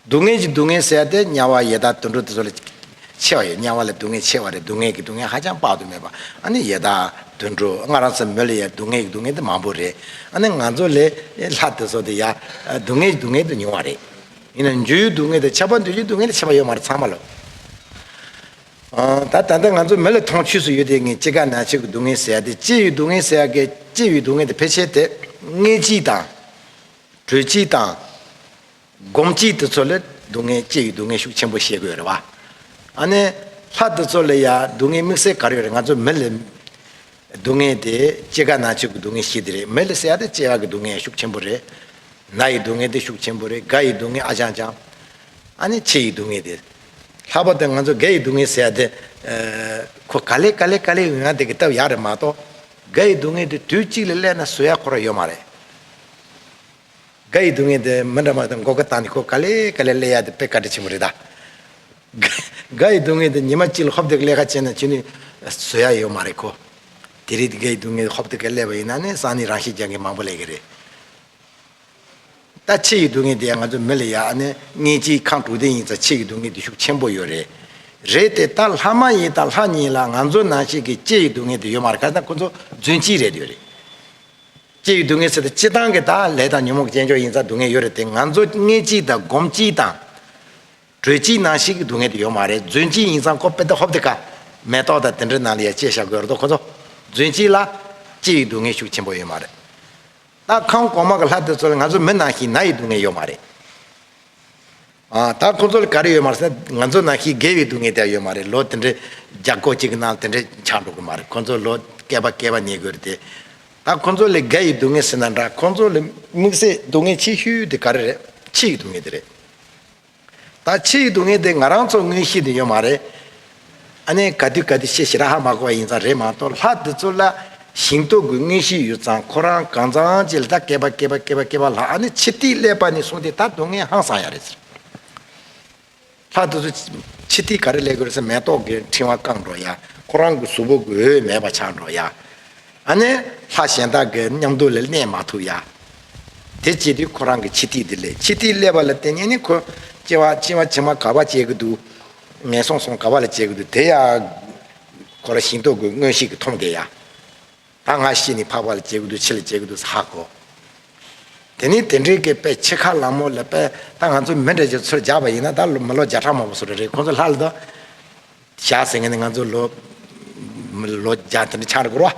སྡུག་བསྔལ་གྱི་སྡུག་བསྔལ་བསལ་ཏེ་དམྱལ་བ་ཡེ་དག་དུད་འགྲོ་དེ་ཚོ་ལས་ཆེ་བ་ཡོད་དམྱལ་བ་ལས་སྡུག་བསྔལ་ཆེ་བ་རེད་སྡུག་བསྔལ་གྱི་སྡུག་བསྔལ་ཧ་ཅང་དཔག་ཏུ་མེད་པ་ཨ་ནི་ཡེ་དག་དུད་འགྲོ་སྔར་རང་སེམས་མོད་ལ་ཡང་སྡུག་བསྔལ་གྱི་སྡུག་བསྔལ་འདི་མང་པོ་རེད་ཨ་ནི་ང་ཚོ་ལས་ལྷ་དེ་ཚོ་དེ་ཡང་སྡུག་བསྔལ་གྱི་སྡུག་བསྔལ་དུ་མྱོང་བ་རེད། ཡིན་ནའང་འཇུ་ཡི་སྡུག་བསྔལ་དང་ཆགས་པ་འདོད་ཀྱི་སྡུག་བསྔལ་ལས་ཆེ་བ་ཡོད་མ་རེད་ཚང་མ་ལོ། ད་ད་ལྟ་ང་ཚོ་མོད་ལ་མཐོང་ཆོས་སུ་ཡོད་དེ་ངས་ཅི་དགའ་ན་ཆོས་ཀྱི་སྡུག་བསྔལ་བསལ་ཏེ་སྐྱེ་བའི་སྡུག་བསྔལ་བསལ་སྐད་སྐྱེ་བའི་སྡུག་བསྔལ་དེ་ཕལ་ཆེར་དེ་སྔའི་སྐྱིད་དང། བྲོས་སྐྱིད་དང། སྒོམ་སྐྱེས་དེ་ཚོ་ལ་སྡུག་བསྔལ་སྐྱེ་ཡི་སྡུག་བསྔལ་ཤུགས་ཆེན་པོ་བཤད་དགོས་རེད་བ། ཨ་ནི། ལྷ་དེ་ཚོ་ལ་ཡང་སྡུག་བསྔལ་དམིགས་བསལ་ག་རེ་ཡོད་རེད་ང་ཚོ་མི་ལ། སྡུག་བསྔལ་དེ་སྐྱེ་རྒ་ན་འཆི་གི་སྡུག་བསྔལ་ཤིག་དེ་རེད་མི་ལ་སྲེད་ཡག་དེ་སྐྱེ་ཡག་གི་སྡུག་བསྔལ་ཡང་ཤུགས་ཆེན་པོ་རེད། ན་ཡི་སྡུག་བསྔལ་དེ་ཤུགས་ཆེན་པོ་རེད་རྒ་ཡི་སྡུག་བསྔལ་ཨ་ཅང་ཅང། ཨ་ནི་འཆི་ཡི་སྡུག་བསྔལ་དེ། ལྷག་པར་དུ་ང་ཚོ་རྒ་ཡི་སྡུག་བསྔལ་སྲེད་ཡག་དེ། ཁོ་ག་ལེ་ག་ལེ་ག་ལེ་ཡོང་ཡག་དེ་གི་སྟབས་ཡག་རེད་མ་གཏོགས། རྒ་ཡི་སྡུག་བསྔལ་དེ་དུས་གཅིག་ལ་བསླད་ན་བཟོད་ཡག་ཁོ་ར་ཡོད་མ་རེད། དགའ་ཡི་སྡུག་བསྔལ་དེ་མི་འདྲ་མ་དང་མགོ་སྐ་བཏང་ནས་ཁོ་ག་ལེ་ག་ལེ་གླེ་ཡ་དེ་དཔེ་བཀའ་དྲིན་ཆེན་པོ་རེད་ད། དགའ་ཡི་སྡུག་བསྔལ་དེ་ཉི་མ་གཅིག་ལ་ཧོབ་དེ་ག་ལེ་ཁ་བྱེད་ན་ཅི་ནུས་བཟོད་ཡ་ཡོད་མ་རེད་ཁོ། དེ་རིགས་དེ་དགའ་ཡི་སྡུག་བསྔལ་ཧོབ་དེ་ག་ལེ་བ་ཡིན་ན་ནི་སང་ནི་རང་ཤི་རྒྱག་མཁན་མང་པོ་ལས་ཀྱི་རེད། ད་ཆེ་ཡི་སྡུག་བསྔལ་དེ་ཡང་ང་ཚོ་མི་ལ་ཡ་ཨ་ནི་ལྔས་གཅིག་ཁང་དྲུག་ལྡན་ཡིན་ཚ་ཆེ་ཡི་སྡུག་བསྔལ་དེ་ཤུགས་ཆེན་པོ་ཡོད་རེད། རེད་དེ་ད་ལྷ་མ་ཡིན་དང་ལྷ་ཉིད་ལ་ང་ཚོ་ནང་ཤི་གི་ལྕེ་ཡི་སྡུག་བསྔལ་དེ་ཡོད་མ་རེད་ཁ་སང་ཁོ་ཚོ་རྫུན་གཅིག་རེད་ཡོད་རེད། སྐྱེ་བའི་སྡུག་བསྔལ་སེལ་ཏེ་སྤྱི་དང་གི་དང་ལས་དང་ཉོན་མོངས་ཀྱི་རྐྱེན་ཆོག་ཡིན་ཙང་སྡུག་བསྔལ་ཡོད་རེད་དེ་ང་ཚོ་ངེས་སྤྱི་དང་སྒོམ་སྤྱི་དང། གྲོལ་སྤྱི་ནང་བཞིན་གྱི་སྡུག་བསྔལ་དེ་ཡོད་མ་རེད་རྫུན་སྤྱི་ཡིན་ཙང་ཀོ་དཔེ་དེ་ཧོབ་དེ་ཀ། མེ་ཏོག་དང་དེ་འདྲའི་ནང་ལ་ཡ་བཅད་བཞག་དགོས་རེད་དོ་ཁོ་ཚོ། རྫུན་སྤྱི་ལ། སྐྱེ་བའི་སྡུག་བསྔལ་ཤུགས་ཆེན་པོ་ཡོད་མ་རེད། ད་ཁམས་གོང་མ་གི་ལྷ་དེ་ཚོ་ལ་ང་ཚོ་མི་ནང་བཞིན་ན་ཡི་སྡུག་བསྔལ་ཡོད་མ་རེད། ད་ཁོ་ཚོ་ལ་ག་རེ་ཡོད་མ་ཟད་ང་ཚོ་ནང་ཤི་རྒས་པའི་སྡུག་བསྔལ་དེ་ཡོད་མ་རེད་ལོ་དེ་འདྲའི་རྒྱ་གོ་གཅིག་གི་ནང་དེ་འདྲའི་ཆགས་འགྲོ་གི་མ་རེད་ཁོ་ཚོ་ལོ་བསྐལ་པ་བསྐལ་བ་ཉལ་དགོས་རེད་དེ། ད་ཁོ་ཚོ་ལ་རྒས་ཡོའི་སྡུག་བསྔལ་ཟེར་ན་འདྲ་ཁོ་ཚོ་ལ་དམིགས་བསལ་སྡུག་བསྔལ་ཆེ་ཤོས་དེ་ག་རེ་རེད་ཕྱི་ཡི་སྡུག་བསྔལ་དེ་རེད། ད་ཕྱི་ཡི་སྡུག་བསྔལ་དེ་ང་རང་ཚོ་དངོས་གཞི་དེ་ཡོད་མ་རེད། ཨ་ནེ་ག་དུས་ག་དུས་ཤེས་ཤེས་ར་ཧ་མ་གོ་བ་ཡིན་ཙང་རེད་མ་གཏོགས་ལྷ་འདི་ཚོ་ལ་ཞིང་གཏོགས་དགོས་ངེས་ཤིག་ཡོད་ཙང་ཁོ་རང་གང་ཙང་ཅི་ལ་ད་སྐད་པ་སྐད་པ་སྐད་པ་སྐད་པ་ལྷ་ཨ་ནེ་ཕྱི་ཐིག་ཀླད་པ་ནས་སོང་སྟེ་ད་སྡུག་བསྔལ་ཧང་སང་ཡ་རེད་ཟེར། ལྷ་འདི་ཚོ་ཕྱི་ཐིག་ག་རེ་ཀླད་དགོས་ཟེར་མེ་ཏོག་གི་ཕྲེང་བ་བཀང་འགྲོ་ཡ་ཁོ་རང་གི་གཟུགས་པོ་གི་འོས་མེད་པ་ཆགས་འགྲོ་ཡ་ཨ་ནེ་ལྷ་གཞན་དག་གི་མཉམ་དུ་ལ་གནས་མ་ཐུབ་ཡ་དེ་སྐྱེས་དུས་ཁོ་རང་གི་ཕྱི་ཐིག་འདི་ལས་ཕྱི་ཐིག་ཀླད་པ་ལ་བལྟས་ཉན་ནི་ཁོ་སྐྱེ་བ་བྱེ་མ་ག་བ་སྐྱེ་གི་འདུག་ངན་སོང་སོང་ག་བ་ལ་བྱེད་དགོས་འདུག་དེ་ཡ། གོ་ལ་ཞིང་འཐོག་དགོས་སྔོན་ཤིག་གི་མཐོང་དེ་ཡ། ད་སྔ་ཤི་ནི་འཕགས་པ་ལ་བྱེད་དགོས་འདུག་ཕྱི་ལ་བྱེད་དགོས་འདུག་ས་ཧ་གོ། དེ་ནི་དེ་འདྲའི་གི་དཔེ་ཆེ་ཁ་ལག་མོ་ལ་དཔེ་ད་ང་ཚོ་མི་འདྲ་ཅིག་ཚུར་རྒྱག་པ་ཡིན་ན་ད་མི་ལོ་བརྒྱ་ཕྲག་མང་པོ་སོ་ར་རེད་ཁོང་ཚོ་ལྷ་ལ་དོ། བཞག་ཟེར་ངེས་ནི་ང་ཚོ་ལོ། ལོ་བརྒྱ་དེ་འདྲ་ཆགས་ར་གོ་ར།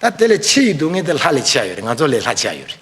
ད་དེ་ལས་ཆེ་ཡི་སྡུག་བསྔལ་དེ་ལྷ་ལས་ཆེ་ཡ་ཡོད་རེད་ང་ཚོ་ལས་ལྷ་ཆེ་ཡ་ཡོད་རེད།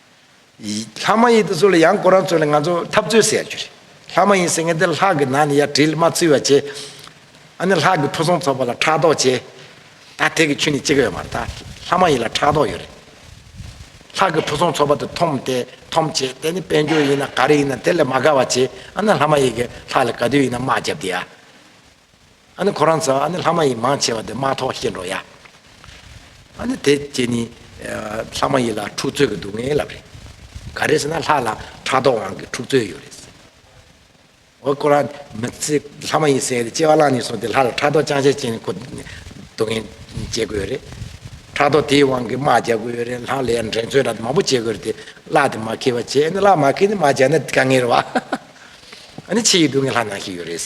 ལྷ་མ་ཡིན་དེ་ཚོ་ལ་ཡང་ཁོ་རང་ཚོ་ལ་ང་ཚོ་འཐབ་རྩོད་ཟེར་རྒྱུ་རེད། ལྷ་མ་ཡིན་ཟེར་མཁན་དེ་ལྷ་གི་ནང་ནས་ཡར་དྲིལ་མ་འཚུལ་བ་བྱེད། ཨ་ནི་ལྷ་གི་ཕུན་སུམ་ཚོགས་པ་ལ་ཕྲག་དོག་བྱེད། ད་དེ་གི་ཆོས་ནི་གཅིག་ཡོད་མ་རེད་ད། ལྷ་མ་ཡིན་ལ་ཕྲག་དོག་ཡོད་རེད། ལྷ་གི་ཕུན་སུམ་ཚོགས་པ་དེ་འཐོམ་སྟེ་འཐོམ་བྱེད་དེ་ནི་དཔལ་འབྱོར་ཡིན་ན་ག་རེ་ཡིན་ན་དེ་ལས་མ་དགའ་བ་བྱེད་ཨ་ན་ལྷ་མ་ཡིན་གྱི་ལྷ་ལ་ག་དུས་ཡིན་ན་དམག་བརྒྱབ་སྟེ་ཡ། ཨ་ནི་ཁོ་རང་ཚོ་ཨ་ནི་ལྷ་མ་ཡིག་མང་ཆེ་བ་དེ་མ་ཐོག་ཤེས་འགྲོ་ཡ། ཨ་ནི་དེ་ཀྱེ་ནི་ལྷ་མ་ཡིག་ལ་འཁྲུག་རྩོད་ཀྱི་སྡུག་བསྔལ་ལབ་རེད། ག་རེ་ཟེར་ན་ལྷ་ལ་ཕྲག་དོག་དབང་གིས་འཁྲུག་རྩོད་ཡོད་རེད་ཟེར། འོ་ཁོ་རང་མི་ཚེ་ལྷ་མ་ཡིག་སེང་གེ་དེ་སྐྱེ་བ་བླངས་ནས་སོང་དེ་ལྷ་ལ་ཕྲག་དོག་ཅང་ཤེས་ཅན་ནི་ཁོ་སྡུག་བསྔལ་སྐྱེ་དགོས་ཡོད་རེད། ཕྲག་དོག་དེའི་དབང་གིས་དམག་རྒྱག་དགོས་ཡོད་རེད་ལྷ་ལས་འགྲན་རྩོད་འདྲ་མང་པོ་བྱེད་དགོས་རེད་དེ་གླག་དེ་མ་ཁེལ་བ་བྱས་ཨ་ནི་གླག་མ་ཁེལ་ཏེ་དམག་རྒྱག་ན་དགའ་ངེས་རེད་བ། ཨ་ནི་ཆེས་ཡི་སྡུག་བསྔལ་ལྷ་ནང་ཞིག་ཡོད་རེད།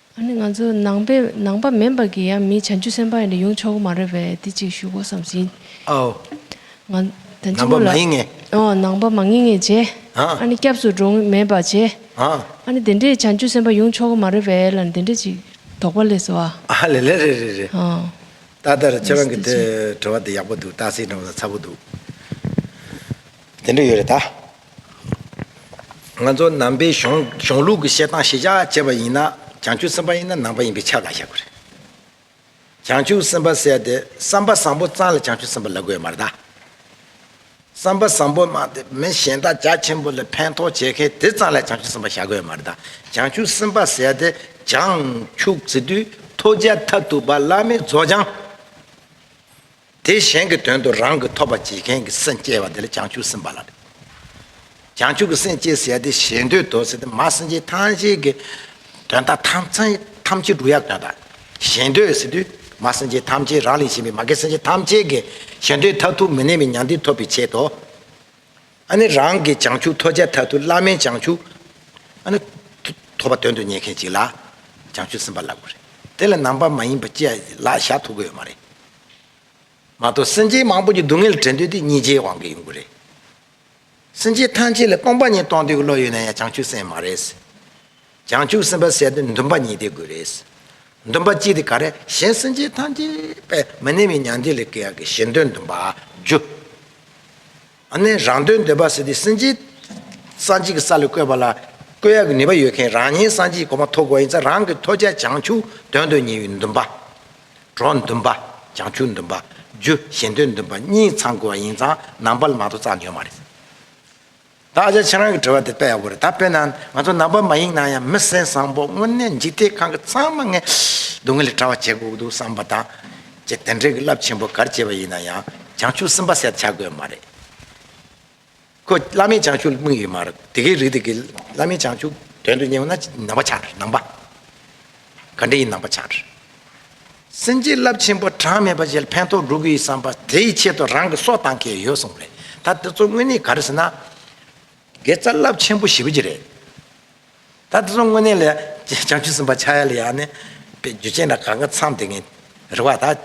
ཨ་ནི་ང་ཚོ་ནང་པས་ནང་པ་མིན་པར་གྱི་ཡང་མིའི་བྱང་ཆུབ་སེམས་དཔའ་ཡིན་དུ་ཡོང་ཆོག་གི་མ་རེད་པས་དེ་ཅིག་ཞུ་དགོས་བསམ་ཟིན། ཨའོ། ང། དང་གཅིག་པོ་ལ། ནང་པ་མ་ཡིན་ངེས། ཨོ་ནང་པ་མ་ངེས་ངེས་བྱས། ཨ། ཨ་ནི་སྐྱབས་སུ་འགྲོ་ངེས་མེད་པར་བྱས། ཨ། ཨ་ནི་དེ་འདྲའི་བྱང་ཆུབ་སེམས་དཔའ་ཡོང་ཆོག་གི་མ་རེད་པས་ལ་ནི་དེ་འདྲ་ཅིག་དོགས་པ་ལས་སོ་ཨ། ཨ་ལེ་ལེ་རེད་རེད་རེད། ཨོ། ཏག་ཏག་རེད་ཁྱེད་རང་གི་དྲི་བ་འདི་ཡག་པོ་འདུག་སྟག་གཟིག་འདྲ་བོ་དང་ཚ་བོ་འདུག། དེ་འདྲ་ཡོད་རེད་ད། ང་ཚོ་ནང་པའི་གཞུང་ལུགས་ཀྱི་བཤད་སྟངས་ཤེས་བྱ་བྱེད་པ་ཡིན་ན་བྱང་ཆུབ་སེམས་དཔའ་ཡིན་ན་ནང་པ་ཡིན་པའི་ཆ་གང་ཤེས་དགོས་རེད། བྱང་ཆུབ་སེམས་དཔའ་བསད་དེ་བསམ་པ་བཟང་པོ་གཙང་ལ་བྱང་ཆུབ་སེམས་དཔའ་ལ་དགོས་མ་རེད་དཱ། བསམ་པ་བཟང་པོ་སྨྲ་དེ་མི་གཞན་དག་རྒྱ་ཆེན་པོ་ལ་ཕན་ཐོགས་བྱེད་མཁན་དེ་གཙང་ལ་བྱང་ཆུབ་སེམས་དཔའ་བྱ་དགོས་མ་རེད་དཱ། བྱང་ཆུབ་སེམས་དཔའ་བསད་དེ་བྱང་ཆུབ་ཚེ་དུས་མཐོ་རྒྱལ་ཐབས་ཐུག་པ་བླ་མའི་རྫོགས་བྱང། དེ་གཞན་གྱི་དོན་དུ་རང་གི་ཐོབ་པ་བྱེད་མཁན་གྱི་སེམས་སྐྱེ་བ་དེ་ལ་བྱང་ཆུབ་སེམས་པ་ལ་རེ། བྱང་ཆུབ་ཀྱི་སེམས་སྐྱེས་ཟེར་ཏེ་ཞེ་འདོད་དོ་ཟེར་ཏེ་མ་སེམས་ཅན་ཐམས་ཅད་ཀྱི་དོན་དག་ཐམས་ཅད་འགྲུབ་ཡ་དོན་དག་ཞེ་འདོད་ཟེར་དུས་མ་སེམས་ཅན་ཐམས་ཅད་རང་ལས་གཞན་པའི་མ་སྐྱེས་སེམས་ཅན་ཐམས་ཅད་ཀྱི་ཞེ་འདོད་མཐར་ཐུག་མི་གནས་པའི་མྱང་འདས་ཐོབ་པའི་ཆེད་དོ། ཨ་ནི་རང་གི་བྱང་ཆུབ་ཐོབ་བྱའི་མཐར་ཐུག་བླ་མའི་བྱང་ཆུབ། ཨ་ནི། ཐོབ་པ་དོན་དུ་གཉེར་མཁན་ཅིག་ལ། བྱང་ཆུབ་སེམས་དཔའ་ལབ་དགོས་རེད། དེ་ལ་ནང་པ་མ་ཡིན་པ་བཅས་ལ་བཞག་ཐུབ་གི་ཡོད་མ་རེད། མ་གཏོགས་སེམས་ཅན་མང་པོ་ཀྱི་སྡུག་བསྔལ་ལ་དྲན་འདོད་དེ་གཉིས་ཆའི་དབང་གིས་ཡོང་གི་རེད། སེམས་ཅན་ཐམས་ཅད་ལ་སྟོང་པ་ཉིད་རྟོགས་འདོད་ཀྱི་བློ་ཡོད་ན་ཡང་བྱང་ཆུབ་སེམས་མ་རེད། བྱང་ཆུབ་སེམས་དཔའ་ཟེར་དུས་འདུན་པ་གཉིས་དེ་དགོས་རེད། འདུན་པ་གཅིག་དེ་ག་རེད་གཞན་སེམས་ཅན་ཐམས་ཅད་པས་མི་གནས་པའི་མྱང་འདས་ལས་སྐྱེ་བ་གཞན་དོན་འདུན་པ་བཅུ། ནས་རང་དོན་འདོད་པ་ཟེར་ཏེ་སེམས་ཅན་གསང་ཆེན་གྱི་ས་ལ་བཀོད་པ་ལ་བཀོད་ཡག་གི་ནུས་པ་ཡོད་མཁན་རང་ཉིད་གསང་ཆེན་གྱི་གོ་མ་ཐོབ་དགོས་ཡིན་ཙང་རང་གི་ཐོས་བྱ་བྱང་ཆུབ་དོན་དུ་གཉིས་ཡོད་འདུན་པ། གྲོགས་འདུན་པ། བྱང་ཆུབ་འདུན་པ། རྒྱུ་གཞན་དོན་འདུན་པ་གཉིས་ཚང་དགོས་པ་ཡིན་ཙང་ནང་པར་མང་དུ་བཙགས་ནུས་ཡོད་མ་རེད། ད་ཨ་ཅག་ཁྱེད་རང་གི་དྲི་བ་དེ་དཔེ་ཡག་པོ་རེད་ད་དཔེར་ན་ང་ཚོ་ནང་པ་མ་ཡིན་ན་ཡང་མི་སེམས་བཟང་པོ་དངོས་གནས་འཇིག་རྟེན་ཁང་གི་ཚང་མ་ངས་སྡུག་བསྔལ་ལས་ཕྲ་བ་བྱེད་དགོས་ཀྱི་འདུག་བསམ་པ་དང། ཅེས་དེ་འདྲའི་གྱི་རླབས་ཆེན་པོ་གར་བྱེད་པ་ཡིན་ན་ཡང་བྱང་ཆུབ་སེམས་དཔའ་སེར་བྱ་དགོས་མ་རེད། ཁོ་བླ་མའི་བྱང་ཆུབ་ལ་དམིགས་ཡོད་མ་རེད། དེ་གའི་རིགས་དེ་གའི་བླ་མའི་བྱང་ཆུབ་དོན་དུ་གཉེར་བ་ན་ནང་པ་ཆགས་འགྲོ་ནང་པ། ག་འདྲ་ཡི་ནང་པ་ཆགས་འགྲོ། སེམས་ཀྱི་རླབས་ཆེན་པོ་གྲངས་མེད་པ་ཞིག་ཕན་ཐོགས་འགྲོ་གི་ཡོད་བསམ་པ་དེའི་ཆེད་དུ་རང་གི་སྲོག་བཏང་གི་ཡོད་གསུངས་པ་རེད། ད་དེ་ཚོ་དངོས་གནས་ག་རེ་ཟེར་ན། དགེ་རྩ་རླབས་ཆེན་པོ་ཞིག་རེད། ད་དེ་ཚོ་དངོས་གནས་ལ་བྱང་ཆུབ་སེམས་དཔའ་ཕྱག་ཡ་ལ་ཡག་ནི། རྒྱུ་ཅན་ལ་གང་གི་མཚམས་དེ་ངས་རེ་བ་ད།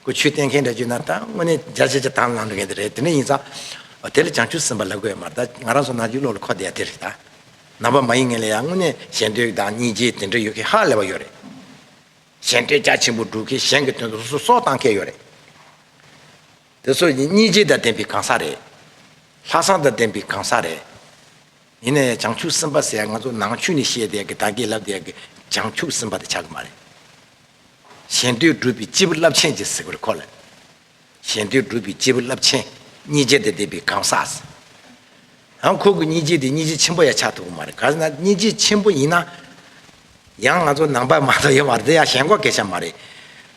ཁོས་ཆོས་བསྟན་མཁན་འདྲ་བརྒྱུད་ན་ད་དངོས་གནས་རྒྱ་ཆེ་ཆེ་དང་ལང་འགྲོ་མཁན་དེ་རེད་དེ་འདྲ་ཡིན་ཙང། དེ་ལ་བྱང་ཆུབ་སེམས་དཔའ་ལ་དགོས་མ་རེད་ད་ང་རང་ཚོ་ནང་བརྒྱུད་ལོག་ལ་འཁོར་བསྡད་ཡ་དེ་རེད་ད། ནང་པ་མ་ཡིན་ངན་ལ་ཡག་དངོས་གནས་གཞན་དོན་དང་གཉིས་རྗེས་དེ་འདྲ་ཡོད་མཁན་ཧ་ལས་པ་ཡོད་རེད། གཞན་དོན་རྒྱ་ཆེན་པོ་སྒྲུབ་མཁན་གཞན་གྱི་དོན་དུ་སོ་སོ་བཏང་མཁན་ཡོད་རེད། དེ་ཚོ་ཡིན་གཉིས་རྗེ་དང་ལྡན་པའི་གང་ཟག་རེད། ལྷག་བསམ་དང་ལྡན་པའི་གང་ཟག་རེད། ཡིན་ན་ཡང་བྱང་ཆུབ་སེམས་དཔའ་ཟེར་ཡ་ང་ཚོ་ནང་ཆོས་ནས་བཤད་དེ་ཡ་གི་དང་གི་ལབ་དེ་ཡ་གི་བྱང་ཆུབ་སེམས་དཔའ་དེ་ཆགས་གི་མ་རེད། གཞན་དོན་སྒྲུབ་པའི་སྤྱི་བོ་རླབས་ཆེན་ཅེས་ཟེར་བར་གོ་ལ། གཞན་དོན་སྒྲུབ་པའི་སྤྱི་བོ་རླབས་ཆེན་གཉིས་རྗེ་དང་ལྡན་པའི་གང་ཟག་ཟེར། ཡང་ཁོ་གི་གཉིས་རྗེ་དེ་གཉིས་རྗེ་ཆེན་པོ་ཡ་ཆགས་ཐུབ་གི་མ་རེད་ག་ཟེར་ན་གཉིས་རྗེ་ཆེན་པོ་ཡིན་ན། ཡང་ང་ཚོ་ནང་པ་མ་གཏོགས་ཡོད་མ་རེད་དེ་ཡ་ཞེན་ཁོག་གེ་ཆགས་མ་རེད།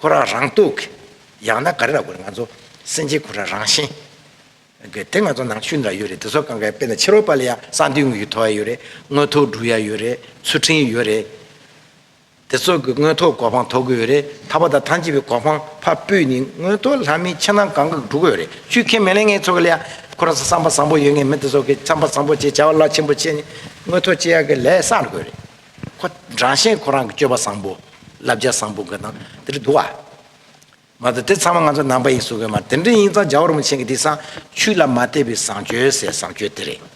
ཁོ་རང་རང་གཏུག་གི། ཡང་ན་ག་རེ་ལ་དགོས་རེད་ང་ཚོ། སེམས་ཅན་ཁོ་རང་རང་བཞིན། གི། དེ་ང་ཚོ་ནང་ཤུལ་འདྲ་ཡོད་རེད་དེ་ཚོ་གང་གཱའི་དཔེ་དང་ཕྱི་རོལ་པ་ལ་ཡང་གསང་འདུས་དངོས་ཀྱི་ཐོ་ཡ་ཡོད་རེད། དངོས་ཐོ་འབྲུ་ཡ་ཡོད་རེད། ཚུལ་ཁྲིམས་ཡོད་རེད། དེ་ཚོ་གི་དངོས་ཐོ་གོ་འཕང་ཐོབ་གི་ཡོད་རེད་ད་བར་དང་ཐང་ཅིག་པའི་གོ་འཕང་ཕ་སྤུས་ནི་དངོས་ཐོ་ལྷ་མིའི་ཕྱི་ནང་གང་གི་འགྲོ་གི་ཡོད་རེད་ཆུ་མཁན་མི་ལས་ངན་ཚོ་གི་ལ་ཡ། ཁོ་རང་ཚོ་བསམ་པ་བཟང་པོ་ཡོད་ངེས་མི་དེ་ཚོ་གི་བསམ་པ་བཟང་པོ་བྱེད་བྱ་བ་རླབས་ཆེན་པོ་བྱེད་ནི་དངོས་ཐོ་སྤྱི་ཡ་གི་ལས་བསགས་དགོས་རེད། ཁོ་རང་ཤེས་ཁོ་རང་གི་སྤྱོད་པ་བཟང་པོ། བསླབ་བྱ་བཟང་པོ་འགའ་དང་དེ་རུ་འདུག་ཨ། མ་དོ་དེ་ཚང་མ་ང་ཚོ་ནང་པ་ཡིན་གསུང་གི་མ་དེ་འདྲ་ཡིན་ཙང་འཇའ་འོར་མོ་ཆེན་གྱི་དེ་སང་ཆུ་ལ་མ་བལྟས་པའི་བཟང་སྤྱོད་ཟེར་བཟང་སྤྱོད་དེ་རེད།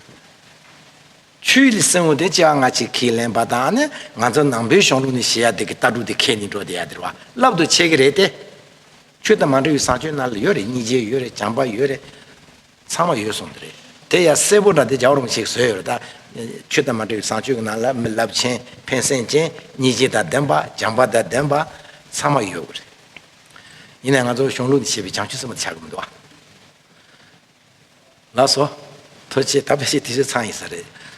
ཆུའི་ལི་སེང་བོ་དེ་ལྕི་བ་ང་ཅིག་ཁས་ལེན་པ་དང་ནི་ང་ཚོ་ནང་པའི་གཞུང་ལུགས་ནི་ཞེ་ཡ་དེ་གི་ལྟ་གྲུག་དེ་ཁས་ནི་འགྲོ་དེ་ཡ་དེ་རུ་བ་ལབ་ཏུ་ཆས་ཀྱི་རེད་དེ། ཆུ་དང་མ་འབྲེལ་བའི་བཟང་སྤྱོད་རྣ་ལ་ཡོད་རེད་སྙིང་རྗེ་ཡོད་རེད་བྱམས་པ་ཡོད་རེད། ཚང་མ་ཡོད་སོང་དེ་རེད། དེ་ཡང་གསལ་པོ་འདྲ་འདི་ཇག་རུང་ཞིག་བཟོས་ཡོད་རེད་ད། ཆོས་དང་མ་འབྲེལ་བའི་བཟང་སྤྱོད་ཀྱི་ནང་ལ་མི་རླབས་ཆེན་ཕན་སེམས་ཅན་སྙིང་རྗེ་དང་ལྡན་པ་སྦྱངས་པ་དང་ལྡན་པ་ཚང་མ་ཡོད་རེད། ཡིན་ནའི་ང་ཚོ་གཞུང་ལུགས་འདི་བྱས་པའི་བྱང་ཆུབ་སེམས་པ་འདི་ཆགས་ཀྱི་མི་འདུག་ཨ། ལགས་སོ། ཐུགས་ཆེ་ད་ཕལ་ཆེར་དེ་ཚོའི་ཚང་ཡིན་ས་རེད།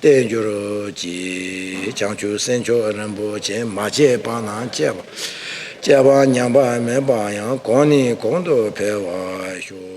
བསྟན་འགྱུར་གྱི་བྱང་ཆུབ་སེམས་མཆོག་རིན་པོ་ཆེ་མ་སྤྱད་པ་ན་སྤྱད་པ། སྤྱད་པ་ཉམས་པ་མེད་པ་ཡང་གོང་ནས་གོང་དུ་འཕེལ་བར་ཤོག།